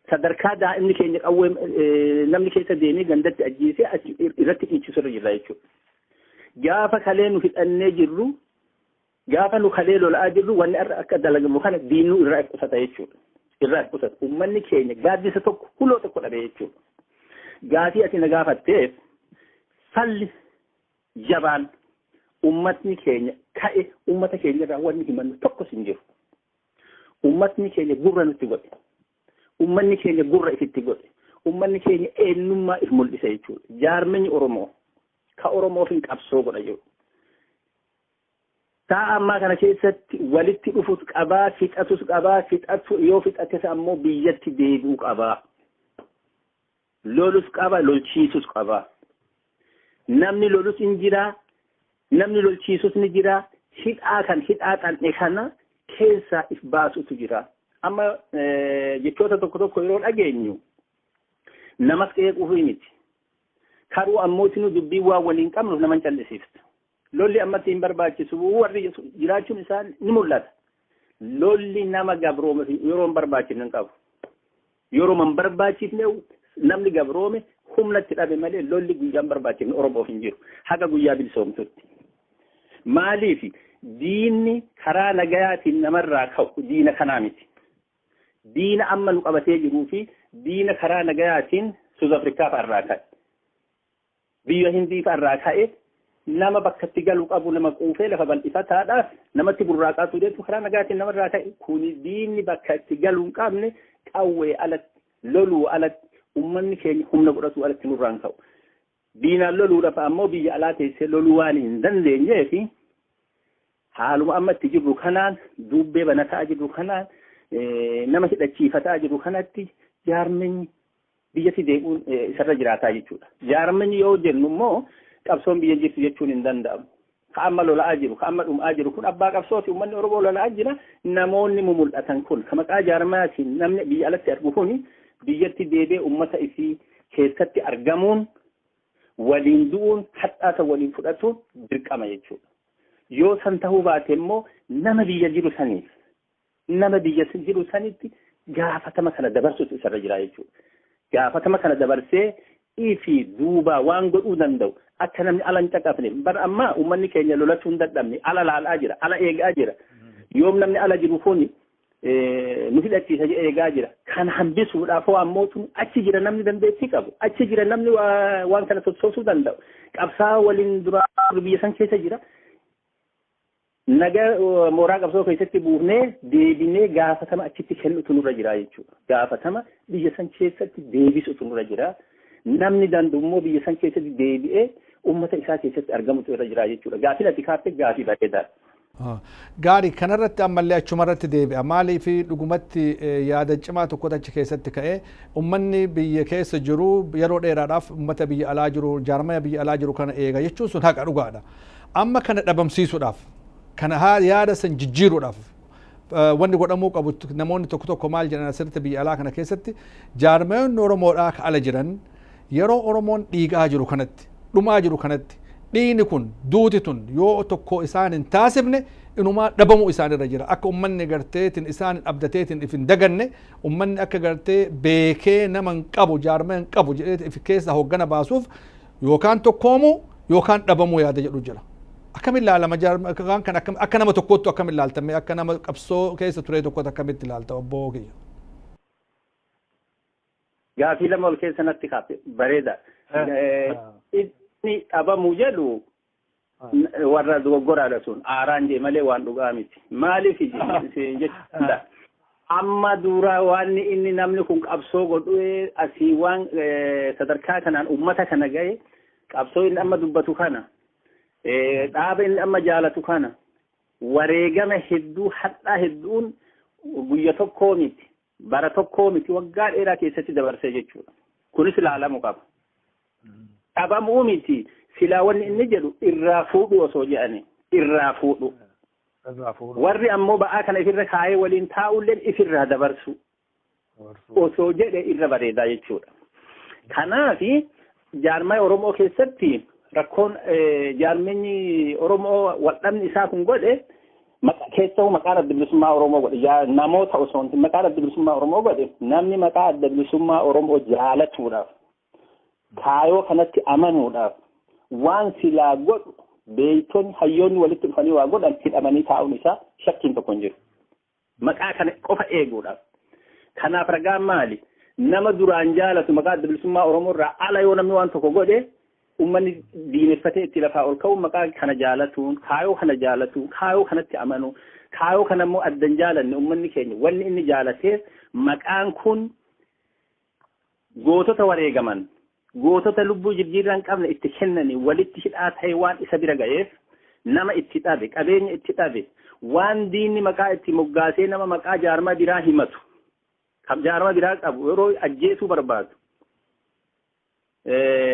Sadarkaa daa'imni keenya qawwee eh, namni keessa deemee gandatti ajjeesee achi irratti dhiichisu irra jirra jechuudha. Gaafa kalee nu hidhannee jirru, gaafa nu kalee lola'aa jirru wanni har'a akka dalagamu kana diinuu irraa if qusata jechuudha. Irraa if qusata. Ummanni keenya gaaddisa tokko huloo tokko dhabe jechuudha. Gaafii ati na gaafatteef falli Jabaadhu! Ummatni keenya ka'e ummata keenyarraa wanni himannu tokkos hin jiru. Ummatni keenya gurra nutti godhe. Ummanni keenya gurra ifitti godhe. Ummanni keenya eenyummaa if mul'ise jechuudha. Jaarmenyi Oromoo ka Oromoof hin qabsoo godha jiru. Sa'a ammaa kana keessatti walitti dhufus qabaa, fixatus qabaa, fixatu yoo fixates ammoo biyyatti deebi'uu qabaa. Lolus qaba, lolchiisus qaba. Namni lolus in jira, namni lolchiisus ni jira. Hidhaa kan hidhaa xan'e kana keessaa if baasutu jira. Amma jechoota tokko tokko yeroo dhageenyu namas qeequuf miti. Karuu ammoo isinuu dubbii waan waliin qabnuuf nama hin callisiiftu. Lolli ammatti hin barbaachisu warri jedhu jiraachuun isaa ni mul'ata. Lolli nama gabroome fi yeroo hin barbaachifne hin qabu. Yeroo hin barbaachifne namni gabroome humna itti dhabe malee lolli guyyaa hin barbaachifne Oromoof hin jiru. Haga guyyaa bilisoomsutti. Maaliif diinni karaa nagayaatiin namarraa ka'u diina kanaa miti. Diina amma nu qabatee jiruu fi diina karaa nagayaatiin Suuz Afrikaa fa'arraa ka'e. Biyya Hindii fa'a irraa ka'ee nama bakka itti galu qabu nama quufee lafa bal'ifataadhaaf namatti burraaqaa ture jechuun karaa nagaatiin nama irraa ka'e kuni diinni bakka itti galu hin qabne qawwee alatti loluu alatti ummanni keenya humna godhatuu alatti nurraan ka'u. Diinaan loluudhaaf ammoo biyya alaa teessee loluu waan hin dandeenyee fi haaluma amma itti jirru kanaan duubbee banataa jirru kanaan nama hidhachiifataa jirru kanatti jaarmenyi biyyatti deebi'uun isarra jiraataa jechuudha. Jaarmanyi yoo jennu immoo qabsoon biyya jirtu jechuun hin danda'amu. Ka amma lola'aa jiru, ka amma dhum'aa jiru kun abbaa qabsooti uummanni Oromoo lola'aa jira. Namoonni mumul'atan kun ka maqaa jaarmayaatiin namni biyya alatti argu kun biyyatti deebi'ee uummata isii keessatti argamuun waliin du'uun hadhaata waliin fudhatuun dirqama jechuudha. Yoo san ta'uu baate immoo nama biyya jiru saniif Nama biyya sin hidhu sanitti gaafatama kana dabarsuutu isarra jira jechuudha. Gaafatama kana dabarsee ifi duubaa waan godhuu danda'u akka namni ala hin caqafne bar ammaa uummanni keenya lolachuu hin dadhabne ala laalaa jira ala eegaa jira yoom namni ala jiru kuni nu hidhachiisa jedhee eegaa jira. Kan hambisuudhaaf waan mootummaa achi jira namni dandeettii qabu. Achi jira namni waan kana sossoosuu danda'u. Qabsaa waliin duraa biyya san keessa jira. Naga mooraa qabsoo keessatti buufnee deebinee gaafatama achitti kennutu nurra jira jechuudha. Gaafatama biyya san keessatti deebisutu nurra jira. Namni danda'u immoo biyya san keessatti deebi'ee uummata isaa keessatti argamutu irra jira jechuudha. Gaaffiin ati kaafte gaaffii bareedaadha. Gaarii kanarratti ammallee achumarratti deebi'a. Maaliif dhugumatti yaada cimaa tokkotu achi keessatti ka'e. Uummanni biyya keessa jiru yeroo dheeraadhaaf uummata biyya alaa jiru jaarmaya biyya alaa jiru kana eega jechuun sun haqa dhugaadha. Amma kana dhabamsiisuudhaaf, kana haa yaada san jijjiiruudhaaf eh, wanni godhamuu qabu t- namoonni tokko tokko maal jedhan asirratti biyya alaa kana keessatti jaarmayoonni Oromoodhaa ka ala jiran yeroo Oromoon dhiigaa jiru kanatti, dhumaa jiru kanatti dhiini kun duuti tun yoo tokko isaan hin taasifne inumaa dhabamuu isaanirra jira akka ummanni garteetiin isaan hin abdateetiin if hin daganne ummanni akka gartee beekee nama hin qabu jaarmaya hin qabu jedhee if keessa hoggana baasuuf Yookaan tokkoomuu yookaan dhabamuu yaada jedhu jira. Akkamiin ilaalama jaarmaan kan akka nama tokkoottu akkamiin ilaaltame akka nama qabsoo keessa turee tokkotti akkamitti ilaalta obbo kiyya. Gaafii lama ol keessa natti kaafe bareeda. Inni dhabamuu jedhu warra dogoggoraadha sun aaraan jee malee waan dhugaa miti maaliif siin jechuudha amma duraa waan inni namni kun qabsoo godhu asii waan sadarkaa kanaan ummata kana gahe qabsoo inni amma dubbatu kana dhaaba inni amma jaalatu kana wareegama hedduu hadhaa hedduun guyya tokkoo miti bara tokkoo miti waggaa dheeraa keessatti dabarsee jechuudha. Kunis ilaalamu qaba. Dhabamuu miti silaa wanni inni jedhu irraa fuudhu osoo jedhani irraa fuudhu. Irraa fuudhu. Warri ammoo ba'aa kana ifirra kaa'ee waliin taa'ulleen ifirraa dabarsu osoo jedhe irra bareedaa jechuudha. Kanaafi Jaarmaya Oromoo keessatti rakkoon jaarmenyi Oromoo waldhabni isaa kun godhe keessoo maqaan adda bilisummaa Oromoo godhe namoota osoo hin maqaan adda bilisummaa Oromoo godhe namni maqaa adda bilisummaa Oromoo jaalatuudhaaf kaayoo kanatti amanuudhaaf waan silaa godhu beektonni hayyoonni walitti dhufanii waa godhan hidhamanii taa'uun isaa shakkiin tokko hin jiru. Maqaa kana qofa eeguudhaaf. Kanaaf ragaan maali? Nama duraan jaalatu maqaa adda bilisummaa Oromoo irraa ala yoo namni waan tokko godhe ummanni diineffatee itti lafaa ol ka'uun maqaa kana jaalatuun kaayoo kana jaalatuun kaayoo kanatti amanuun kaayoo kana immoo addan jaalanne ummanni keenya wanni inni jaalateef maqaan kun Gootota wareegaman, gootota lubbuu jirjiirraa hin qabne itti kennanii walitti hidhaa ta'ee waan isa bira ga'eef nama itti dhabe, qabeenya itti dhabe, waan diinni maqaa itti moggaasee nama maqaa jaarmaa biraa himatu, jaarmaa biraa qabu yeroo ajjeesuu barbaadu,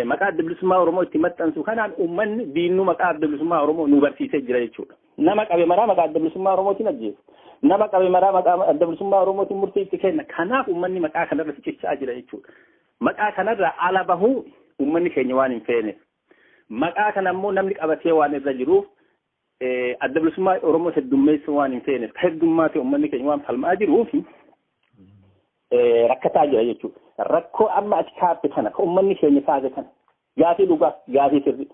maqaa adda bilisummaa Oromoo itti maxxansu kanaan uummanni diinni maqaa adda bilisummaa Oromoo nu barsiisee jira jechuudha. Nama qabe maraa maqaa adda bilisummaa Oromootiin ajjeesu. Nama qabe maraa maqaa adda bilisummaa Oromootiin murtii itti kenna. Kanaaf uummanni maqaa kanarra cichaa jira jechuudha. Maqaa kanarraa ala bahuu uummanni keenya waan hin feeneef. Maqaa kana immoo namni qabatee waan irra jiruuf Adda bilisummaa Oromoo heddummeessuu waan hin feeneef ka heddummaa ta'e uummanni keenya waan falmaa jiruuf rakkataa jira jechuudha. Rakkoo amma ati kaafte kana ka uummanni keenya kaase kana gaafii dhugaa gaafii sirrii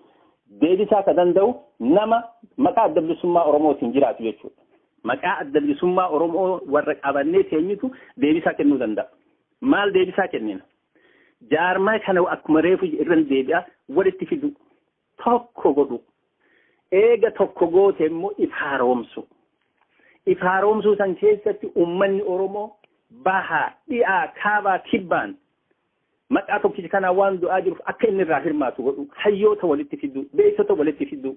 deebisaa ka danda'u nama maqaa adda bilisummaa Oromootiin jiraatu jechuudha. Maqaa adda bilisummaa Oromoo warra qabannee teenyutu deebisaa kennuu danda'a. Maal deebisaa kennina? Jaarmaa kana akkuma reefu irra deebi'aa walitti fiduu. tokko godhu. Eega tokko goote immoo if haaromsu. If haaromsuu san keessatti ummanni Oromoo bahaa, dhi'aa, kaabaa, kibbaan maqaa tokkicha kanaa waan du'aa jiruuf akka inni irraa hirmaatu godhu. Hayyoota walitti fiduu, beektota walitti fiduu.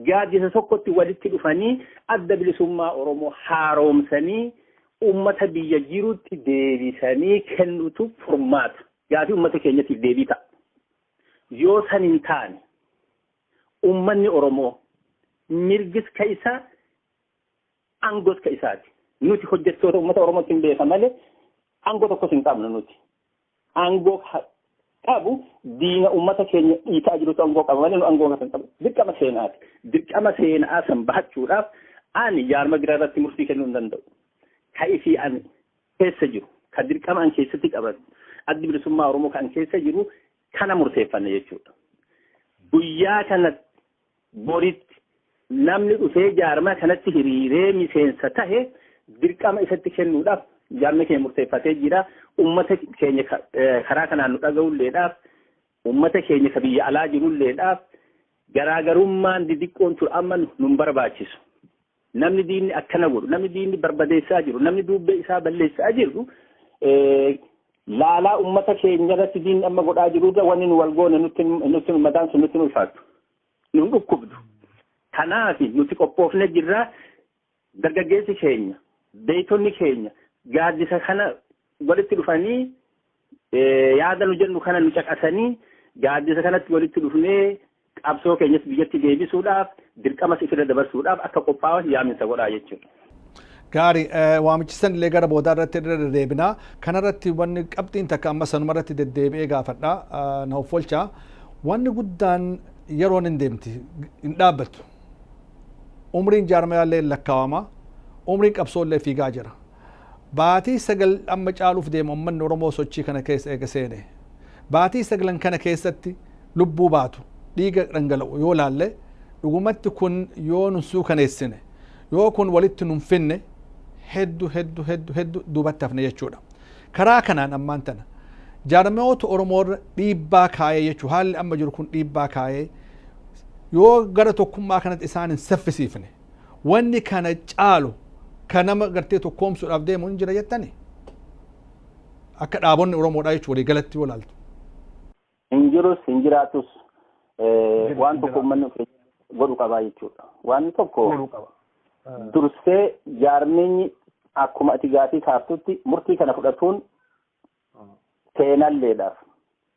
Gaaddisa tokkotti walitti dhufanii Adda Bilisummaa Oromoo haaroomsanii uummata biyya jirutti deebisanii kennutu furmaata. Gaafii uummata keenyatiif deebii ta'a. Yoo san hin taane uummanni Oromoo mirgis ka isaa aangos ka isaati. Nuti hojjettoota uummata Oromootti hin beeka malee aangoo tokkos hin qabnu nuti. aangoo qabu diina uummata keenya dhiitaa jirutu aangoo qaba malee nu aangoo kan qabu dirqama seenaati. Dirqama seenaa san bahachuudhaaf ani jaarma biraa irratti murtii kennuu hin danda'u. Ka isii ani keessa jiru, ka dirqama an keessatti qaban, addi bilisummaa Oromoo kan keessa jiru kana murteeffanne jechuudha. Guyyaa kana Boritti namni dhufee jaarmaa kanatti hiriiree miseensa tahe dirqama isatti kennuudhaaf jaarmee keenya murteeffatee jira. Uummata keenya karaa kanaan nu dhaga'ulleedhaaf, uummata keenya ka biyya alaa jirulleedhaaf garaagarummaan didiqqoon tun amma nun barbaachisu. Namni diinni akkana godhu, namni diinni barbadeessaa jiru, namni duubbee isaa balleessaa jiru laalaa ummata keenya irratti diinni amma godhaa jiru irra wanni nu wal goone nutti ummataan sun nutti ulfaatu. Nun dhukkubdu. Kanaaf nuti qophoofne jirra dargaggeessi keenya, beektonni keenya gaaddisa kana walitti dhufanii Yaada nu jennu kana nu caqasanii gaaddisa kanatti walitti dhufnee qabsoo keenyas biyyatti deebisuudhaaf dirqamas ifirra dabarsuudhaaf akka qophaa'an yaaminsa godhaa jechuudha. Gaari waamichi san illee gara boodaa irratti irra deddeebina. Kana irratti wanni qabxiin takka amma sanuma irratti deddeebi'ee gaafadha. Na offolcha. Wanni guddaan yeroon hin deemti hin dhaabbattu. Umriin jaarmayaallee lakkaawama. Umriin qabsoollee fiigaa jira. Baatii sagal amma caaluuf deema ummanni Oromoo sochii kana keessa eega seene. Baatii saglan kana keessatti lubbuu baatu, dhiiga dhangala'u yoo laalle dhugumatti kun yoo nun suukaneessine, yoo kun walitti nun finne heddu heddu heddu heddu duubatti hafna jechuudha. Karaa kanaan ammaan tana jaarmayoota Oromoo irra dhiibbaa kaayee jechuu haalli amma jiru kun dhiibbaa kaayee yoo gara tokkummaa kanatti isaan hin saffisiifne, wanni kana caalu ka nama gartee tokkoomsuudhaaf deemu hin jira jettani akka dhaabonni oromoodhaa jechuun walii galatti yoo laaltu. Hin jirus hin jiraatus waan tokko uummanni of godhu qabaa jechuudha. Waan tokko dursee jaarmeenyi akkuma ati gaafii kaaftutti murtii kana fudhatuun Seenalleedhaaf,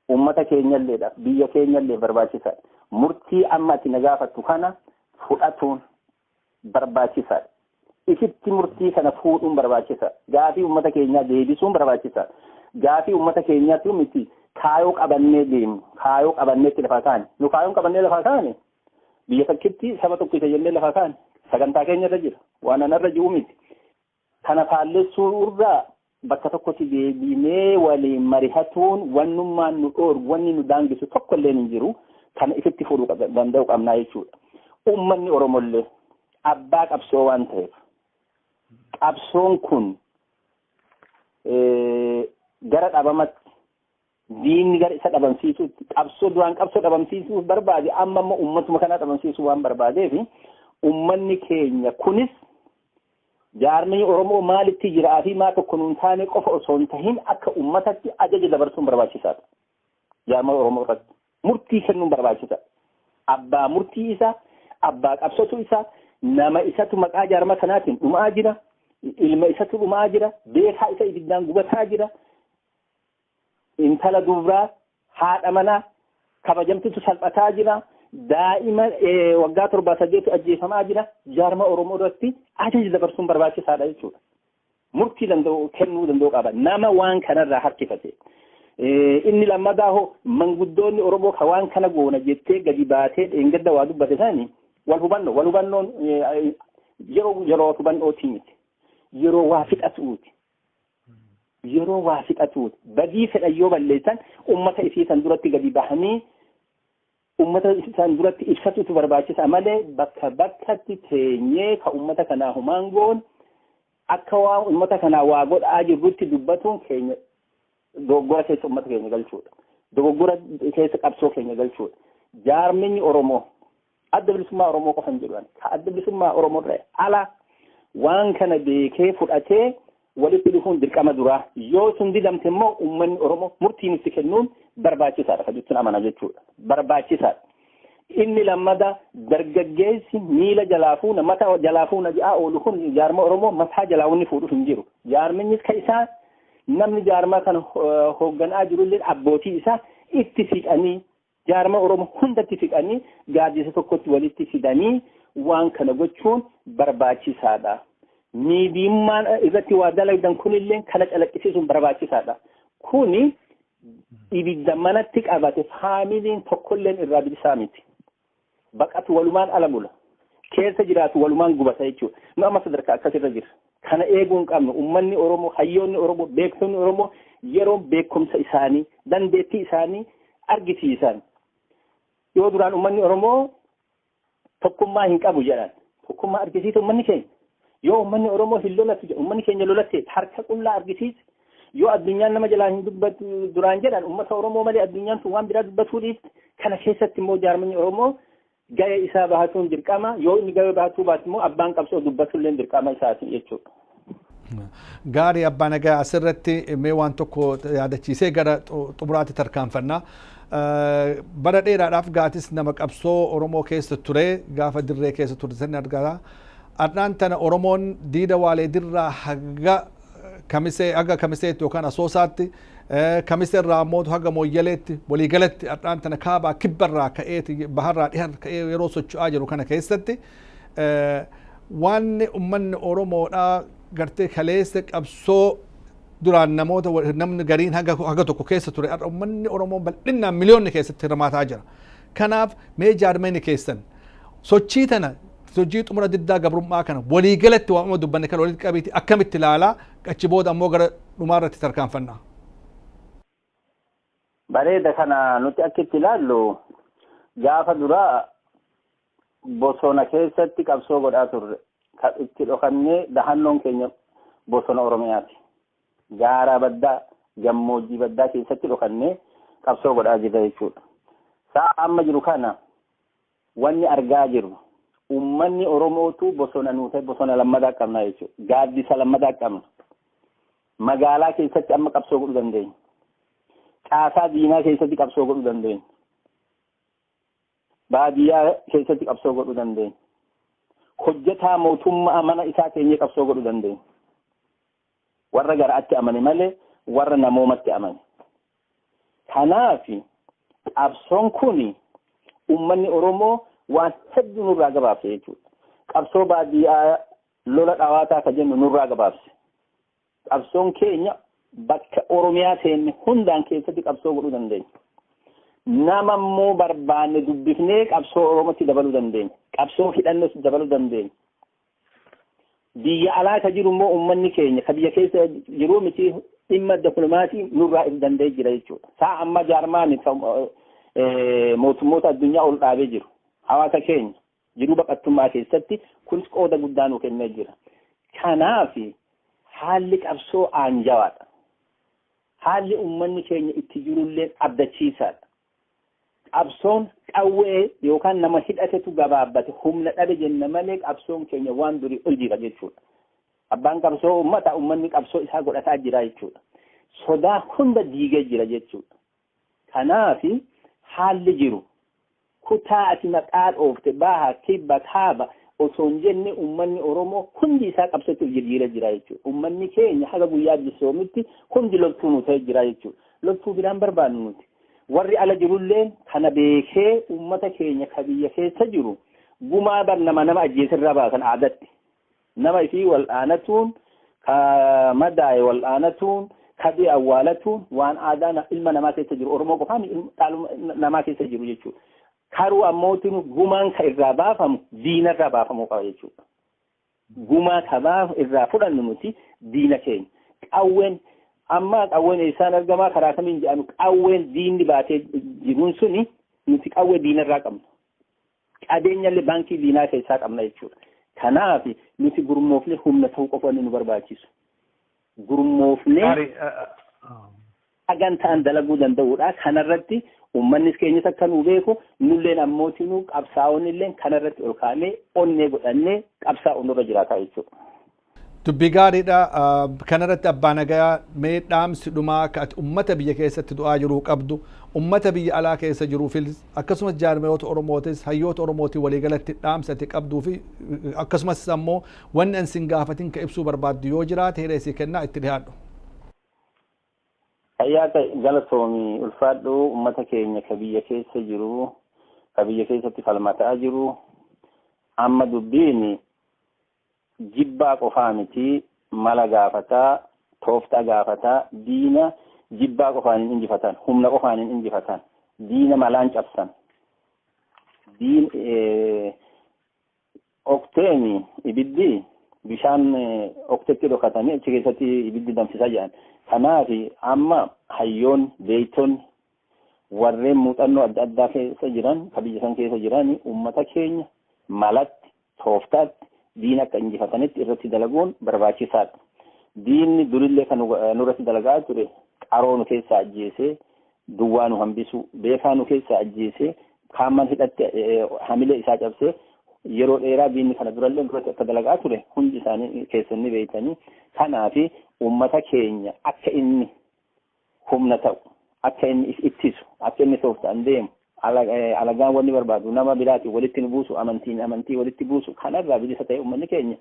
uummata keenyalleedhaaf, biyya keenyalleef barbaachisaadha. Murtii amma ati na gaafattu kana fudhatuun barbaachisaadha. Ifitti murtii kana fuudhuun barbaachisaadha. Gaafii uummata keenyaa deebisuun barbaachisaadha. Gaafii uummata keenyaatu miti kaayoo qabannee deemnu, kaayoo qabannee itti lafaa kaane. Nu kaayoon qabannee lafaa kaane biyya takkitti saba tokkicha jennee lafaa kaane. Sagantaa keenya irra jira. Waan anarra jiru miti. Kana faallessuu irra bakka tokkotti deebiinee waliin marihatuun wannummaan nu dhoorgu wanni nu daangisu tokko illee hin jiru kana ifitti furuu danda'u qabnaa jechuudha. Uummanni Oromollee abbaa qabsoo waan ta'eef qabsoon kun gara dhabamatti Diinni gara isa dhabamsiisuutti qabsoo duraan qabsoo dhabamsiisuuf barbaade amma immoo uummatuma kanaa dhabamsiisuu waan barbaadeef uummanni keenya kunis jaarmii Oromoo maalitti jiraa fi maa tokko nuun taane qofa osoo hin tahin akka uummatatti ajaja dabarsuun barbaachisaadha. Jaarmii Oromoo irratti murtii kennuun barbaachisaadha. Abbaa murtii isaa, abbaa qabsotu isaa, nama isatu maqaa jaarmaa kanaatiin dhumaa jira, ilma isatu dhumaa jira, beekaa isa ibiddaan gubataa jira, Intala dubraa haadha manaa kabajamtutu salphataa jira. Daa'ima waggaa torbaa saddeetu ajjeefamaa jira. Jaarma Oromoo irratti ajaja dabarsuun barbaachisaadha jechuudha. Murtii danda'u kennuu danda'u qaba. Nama waan kanarraa harkifate. Inni lammataa hoo manguddoonni Oromoo kan waan kana goona jettee gadi baatee dheengadda waa dubbate sani wal hubannoo wal hubannoon yeroo yeroo hubannootii miti. Yeroo waa fixatuuti. yeroo waa fixatuuti. Badii fedhan yoo balleessan ummata isii san duratti gadi bahanii ummata san duratti ibsatutu barbaachisa malee bakka bakkatti teenyee ka ummata kanaa humaan goon akka waa ummata kanaa waa godhaa jirrutti dubbatuun keenya dogoggora keessa ummata keenya galchuudha. Dogoggora keessa qabsoo keenya galchuudha. Jaarminyi Oromoo adda bilisummaa Oromoo qofan jedhu ani. Ka adda bilisummaa Oromoorra ala waan kana beekee fudhatee walitti dhufuun dirqama duraa. Yoo sun didamte immoo uummanni Oromoo murtiin itti kennuun barbaachisaadha kan jechuun amana jechuudha. Barbaachisaadha. Inni lammada dargaggeessi miila jalaa fuuna mata jalaa fuuna jedhaa oolu kun jaarma Oromoo mataa jalaa wanni fuudhu hin jiru. Jaarminnis ka isaa namni jaarmaa kana hoogganaa jirullee abbootii isaa itti siqanii Jaarmaa Oromoo hundatti siqanii gaaddisa tokkotti walitti fidanii waan kana gochuun barbaachisaadha. Miidiyummaan irratti waa dalagdan kunillee kana calaqqisiisuun barbaachisaadha. Kuni ibidda manatti qabate faamiliin tokkolleen irraa bilisaa miti. baqatu walumaan ala mula. Keessa jiraatu walumaan gubata jechuudha. Nu amma sadarkaa akkasirra jirra. Kana eeguu hin qabnu. Uummanni Oromoo, hayyoonni Oromoo, beektonni Oromoo yeroo beekumsa isaanii, dandeettii isaanii argisiisan. Yoo duraan uummanni Oromoo tokkummaa hin qabu jedhan. Tokkummaa argisiisa uummanni keenya. Yoo ummanni Oromoo hin lolatu jedhe, ummanni keenya lolatee harka qullaa argisiise, yoo addunyaan nama jalaa hin dubbatu duraan jedhan ummata Oromoo malee addunyaan tun waan biraa dubbatuu dhiifte kana keessatti immoo jaarmanni Oromoo ga'ee isaa bahatuun dirqama yoo inni ga'ee bahatuu baate immoo abbaan qabsoo dubbatulleen dirqama isaati jechuudha. Gaarii abbaa nagaa asirratti mee waan tokko yaadachiisee gara xumuraatti tarkaanfannaa. Bara dheeraadhaaf gaatis nama qabsoo Oromoo keessa ture gaafa dirree keessa ture san argata. Ardhaan tana Oromoon diida Waalee Dirraa haga Kamisee haga Kamiseetti yookaan Asoosaatti, Kamise irraa ammoo haga Mooyyaleetti walii galatti ardhaan tana kaabaa kibba irraa ka'eeti baha irraa dhiha ka'ee yeroo socho'aa jiru kana keessatti waanni ummanni Oromoodhaa gartee kaleessa qabsoo duraan namoota namni gariin haga haga tokko keessa ture har'a ummanni Oromoo bal'innaan miliyoonni keessatti hirmaataa jira. Kanaaf mee jaarmayni keessan Sochii tana sochii xumura diddaa gabrummaa kana walii galatti waamama dubbanne kana walitti qabiiti akkamitti ilaalaa achi booda ammoo gara dhumaa irratti tarkaanfannaa. Bareeda kana nuti akka itti ilaallu gaafa duraa bosona keessatti qabsoo godhaa turre kan itti dhokannee dahannoon keenya bosona Oromiyaati. Gaaraa baddaa gammoojjii baddaa keessatti dhokannee qabsoo godhaa jirra jechuudha. Sa'a amma jiru kana wanni argaa jirru ummanni Oromootu bosona nuu ta'e bosona lammataa qabna jechuudha. Gaaddisa lammataa qabna. Magaalaa keessatti amma qabsoo godhuu dandeenya. Caasaa diinaa keessatti qabsoo godhuu dandeenya. Baadiyyaa keessatti qabsoo godhuu dandeenya. Hojjetaa mootummaa mana isaa teenyee qabsoo godhuu dandeenya. Warra gara'atti amane malee warra namoomatti amane. Kanaaf qabsoon kun ummanni Oromoo waan hedduu nurraa gabaabse jechuudha. Qabsoo baadiyyaa lola dhawaataa ka jennu nurraa gabaabse. Qabsoon keenya bakka Oromiyaa seenne hundaan keessatti qabsoo godhuu dandeenya. Nama immoo barbaanne dubbifnee qabsoo Oromootti dabaluu dandeenya. Qabsoo hidhannoos dabaluu dandeenya. Biyya alaa ka jiru immoo uummanni keenya ka biyya keessa jiruu miti dhimma diplomaasii nurraa if danda'ee jira jechuudha. Saa amma jaarmaan mootummoota addunyaa ol dhaabee jiru. Hawaasa keenya jiruu baqattummaa keessatti kunis qooda guddaa nu kennee jira. Kanaaf haalli qabsoo aanjawaadha. Haalli uummanni keenya itti jirullee abdachiisaadha. Qabsoon qawwee yookaan nama hidhatetu gabaabbate humna dhabe jenna malee qabsoon keenya waan durii ol jira jechuudha. Abbaan qabsoo uummata uummanni qabsoo isaa godhataa jira jechuudha. Sodaa hunda diigee jira jechuudha. Kanaaf haalli jiru kutaa ati maqaa dhoofte baha kibba kaaba osoo hin jenne uummanni Oromoo hundi isaa qabsootti of jijjiiree jira jechuudha. Uummanni keenya haga guyyaa bisoomitti hundi loltuu nu ta'ee jira jechuudha. Loltuu biraan barbaannu nuti. Warri ala jirulleen kana beekee ummata keenya ka biyya keessa jiru gumaa bar nama nama ajjeese irraa baasan aadatti. Nama ifii wal'aanatuun, ka madaaye wal'aanatuun, ka du'e awwaalatuun waan aadaa na- ilma namaa keessa jiru Oromoo qofaa miti ilma- dhaaluma na- namaa keessa jiru jechuudha. Karuu ammootinu gumaan ka irraa baafamu diina irraa baafamuu qaba jechuudha. Gumaa sabaa irraa fudhannu nuti diina keenya. Qawween ammaa qawween eessaan argamaa karaa kamiin jedhanu qawween diinni baatee jiruun suni nuti qawwee diinarraa qabna. Qabeenyallee baankii diinaa keessaa qabna jechuudha. Kanaaf nuti gurmoofne humna ta'uu qofa inni nu barbaachisu. gurmoofnee sagantaan dalaguu danda'uudha. Kanarratti uummannis keenyas akka nu beeku nulleen ammootinuu qabsaa'onni illee kanarratti ol kaa'nee onnee godhannee qabsaa'u nurra jiraataa jechuudha. Dubbii gaariidha. Kanarratti abbaa nagaa mee dhaamsi dhumaa akka ati uummata biyya keessatti du'aa jiruu qabdu uummata biyya alaa keessa jiruufis akkasumas jaarmayoota Oromootis hayyoota Oromootiin waliigalatti dhaamsi ati qabduu fi akkasumas ammoo Wanni an sin gaafatin ka ibsuu barbaaddu yoo jiraate hiree sii kennaa itti dhihaadhu. Fayyaa ta'i galatoomi ulfaadhu ummata keenya ka biyya keessa jiru ka biyya keessatti falmataa jiru amma dubbiin jibbaa qofaa miti mala gaafataa tooftaa gaafataa diina jibbaa qofaan hin injifatan humna qofaan hin injifatan diina malaan cabsan diin Okteeni ibiddi bishaan oktetti dhokatanii achi keessatti ibiddi danfisaa jedhan. Kanaaf amma hayyoon beeytoonni warreen muuxannoo adda addaa keessa jiran ka biyya san keessa jiran uummata keenya malatti tooftaatti diina akka injifatanitti irratti dalaguun barbaachisaadha. Diinni durillee kan nurratti dalagaa ture qaroo nu keessaa ajjeesee duwwaa nu hambisuu, beekaa nu keessaa ajjeesee, kaamman hidhatti hamilee isaa cabsee yeroo dheeraa diinni kana durallee duratti akka dalagaa ture hundi isaanii keessan ni beektanii. Kanaaf uummata keenya akka inni humna ta'u, akka inni if ittisu, akka inni tooftaan deemu, alagaan wanni barbaadu nama biraatiin walitti nu buusu, amantiin amantii walitti buusu kanarraa bilisa ta'ee uummanni keenya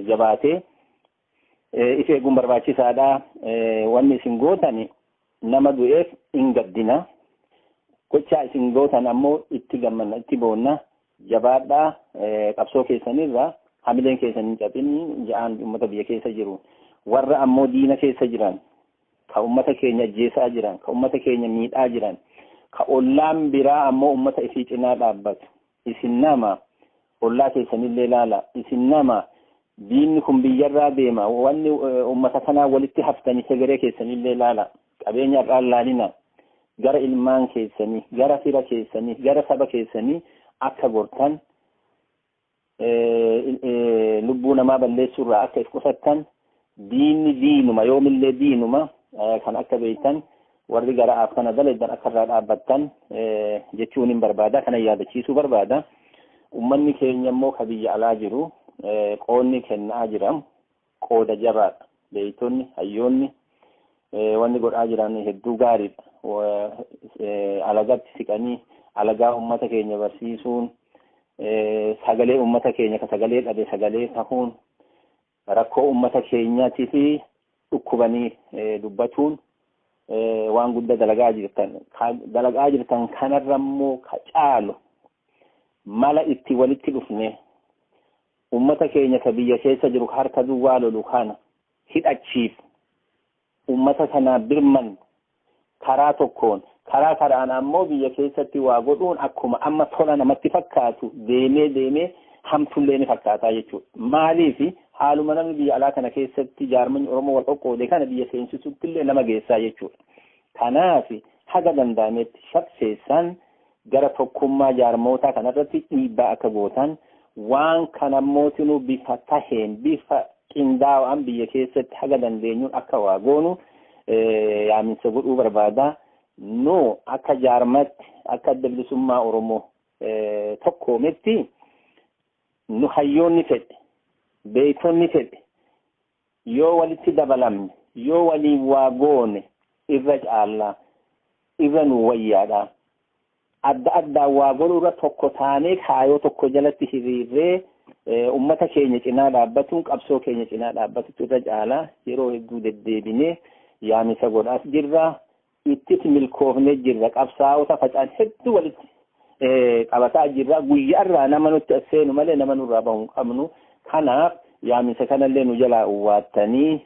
jabaatee If eeguun barbaachisaadha. Wanni isin gootan nama du'eef hin gaddina. Gochaa isin gootan ammoo itti gammanna, itti boonna. Jabaadhaa qabsoo keessanirra hamileen keessan hin cabini ja'aan uummata biyya keessa jiru. Warra ammoo diina keessa jiran, ka uummata keenya ajjeesaa jiran, ka uummata keenya miidhaa jiran, ka ollaan biraa ammoo uummata isii cinaa dhaabbatu. Isin nama Ollaa keessanillee laalaa. Isin nama. Diinni kun biyyarraa deema. Wanni ummata kanaa walitti haftanii hegeree keessanillee laalaa. Qabeenya har'aan laalinaa. Gara ilmaan keessanii, gara fira keessanii, gara saba keessanii akka gortan, lubbuu namaa balleessuurraa akka if qusattan Diinni diinuma yoomillee diinuma kan akka beektan warri gara'aaf kana dalaydan akka irraa dhaabbattan jechuun hin barbaada kana yaadachiisuu barbaada. Ummanni keenya immoo ka biyya alaa jiru qoonni kennaa jira qooda jabaadha. Beektonni hayyoonni wanni godhaa jiran hedduu gaariidha. Alagatti siqanii alagaa ummata keenya barsiisuun sagalee ummata keenya ka sagalee dhabe sagalee tahuun Rakkoo ummata keenyaatiif dhukkubanii dubbatuun waan guddaa dalagaa jirtan. Dalagaa jirtan kanarra immoo ka caalu mala itti walitti dhufne ummata keenya ka biyya keessa jiru harka duwwaa lolu kana hidhachiif ummata kana birmannu karaa tokkoon karaa karaan ammoo biyya keessatti waa godhuun akkuma amma tola namatti fakkaatu deemee deemee hamtullee ni fakkaataa jechuudha. Maaliif haaluma namni biyya alaa kana keessatti jaarmanni Oromoo wal qoqqoode kana biyya seensisutti illee nama geessaa jechuudha. Kanaaf haga danda'ametti shafseessaan gara tokkummaa jaarmootaa kanarratti dhiibbaa akka gootan, waan kanammootinuu bifa taheen, bifa qindaawaan biyya keessatti haga dandeenyuun akka waa goonu yaaminsa godhuu barbaada. Nu akka jaarmatti, akka adda bilisummaa Oromoo tokkoometti nu hayyoonni fedhe, beektonni fedhe, Yoo walitti dabalamne, yoo waliin waa goone irra caalla, irra nuu wayyaadha. Adda addaan waa godhuurra tokko taanee kaayoo tokko jalatti hiriirree ummata keenya cinaa dhaabbatuun qabsoo keenya cinaa dhaabbatutu irra caala. Yeroo hedduu deddeebinee yaamicha godhaas jirra. Ittis milkoofnee jirra. Qabsaa'ota facaan hedduu walitti qabataa jirra. Guyyaa irraa nama nutti as seenu malee nama nurraa bahu hin qabnu. Kanaaf yaaminsa kanallee nu jalaa uwwaattanii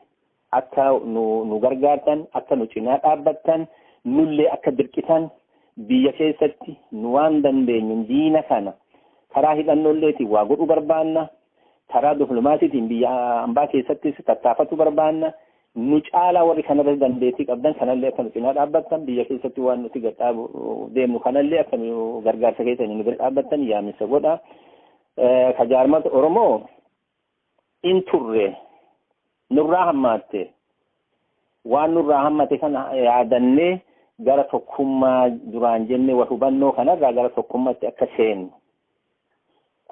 akka nu gargaartan, akka nu cinaa dhaabbattan, nullee akka dirqitan biyya keessatti nu waan dandeenyuun diina kana karaa hidhannoolleetiin waa godhuu barbaanna. Karaa diplomaasiitiin biyya ambaa keessattis tattaafatu barbaanna. Nu caalaa warri kanarratti dandeettii qabdan kanallee akka nu cinaa dhaabbattan biyya keessatti waan nuti gad dhaabu deemnu kanallee akka nu gargaarsa keessaniin nu bira dhaabbattan yaamisa godha. Ka jaarmata Oromoo in turre nurraa hammaatte waan nurraa hammate kana yaadannee gara tokkummaa duraan jennee wal hubannoo kanarraa gara tokkummaatti akka seennu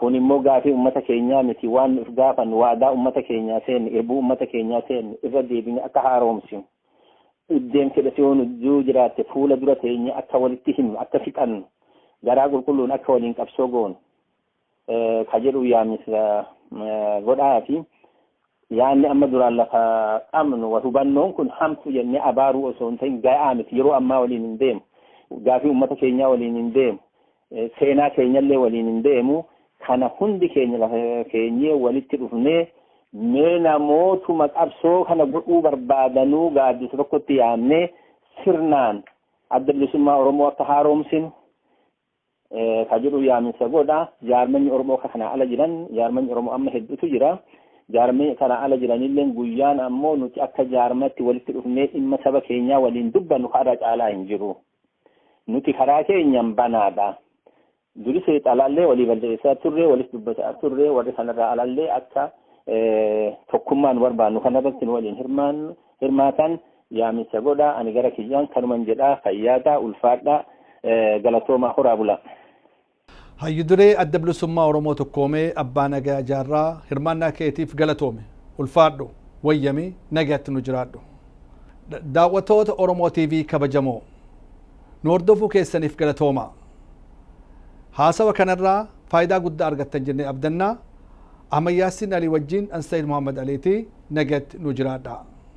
Kun immoo gaafii ummata keenyaa miti waan nuuf gaafannu waadaa ummata keenyaa seenne irbuu ummata keenyaa seenne irra deebine akka haaroomsinu dhibdeen fedha si hoonu yoo jiraatte fuula dura teenye akka walitti himnu akka fixannu garaa qulqulluun akka waliin qabsoo goonu ka jedhu yaamisa godhaa fi Yaanni amma duraan lafa qabnu wal hubannoon kun hamtu jennee abaaruu osoo hin ta'in ga'aa miti. Yeroo ammaa waliin hin deemu. Gaafii uummata keenyaa waliin hin deemu. Seenaa keenyallee waliin hin deemu. Kana hundi keenya lafa keenyee walitti dhufnee mee namootuma qabsoo kana godhuu barbaadanuu gaaddisa tokkotti yaamnee sirnaan adda bilisummaa Oromoo akka haaromsinu ka jedhu yaaminsa godha. Jaarmanni Oromoo akka kanaa ala jiran jaarmanni Oromoo amma hedduutu jira. Jaarmanni kanaa ala jiranillee guyyaan ammoo nuti akka jaarmatti walitti dhufnee dhimma saba keenyaa waliin dubbannu karaa caalaa hin jiru. Nuti karaa keenyaan banaadha. Duris xalaallee walii balleessaa turre walis dubbataa turre warri kanarraa alallee akka tokkummaan barbaannu kanarratti nu waliin hirmaatan Yaamicha godhaa ani gara kiyyaan kanuman jedhaa fayyaa ta'a ulfaadhaa galatoomaa horaa bulaa. Hayyu duree Adda Bilisummaa Oromoo Tokkoome Abbaa Nagaya Jaarraa hirmaannaa keetiif galatoomi. Ulfaadhu. Wayyami. Nagayatti nu jiraadhu. Daawwattoota Oromoo TV kabajamoo. Nu hordofuu keessaniif galatoomaa. Haasawa kanarraa faayidaa guddaa argattan jennee abdanna. Ahmad Yaasiin Alii wajjin an Sayid Muhammad Aliiti. Nagayatti nu jiraadhaa.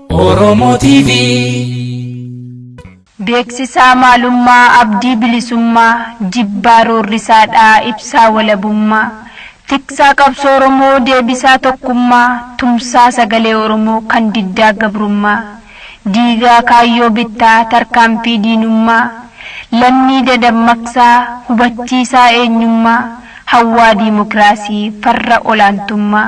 Oromo TV. Beeksisaa maalummaa abdii bilisummaa Jibbaa roorrisaadhaa ibsaa walabummaa Tiksaa qabsoo Oromoo deebisaa tokkummaa Tumsaa sagalee Oromoo kan diddaa gabrummaa Diigaa kaayyoo bittaa tarkaanfii diinummaa Lammii dadammaqsaa hubachiisaa eenyummaa Hawwaa diimokiraasii farra olaantummaa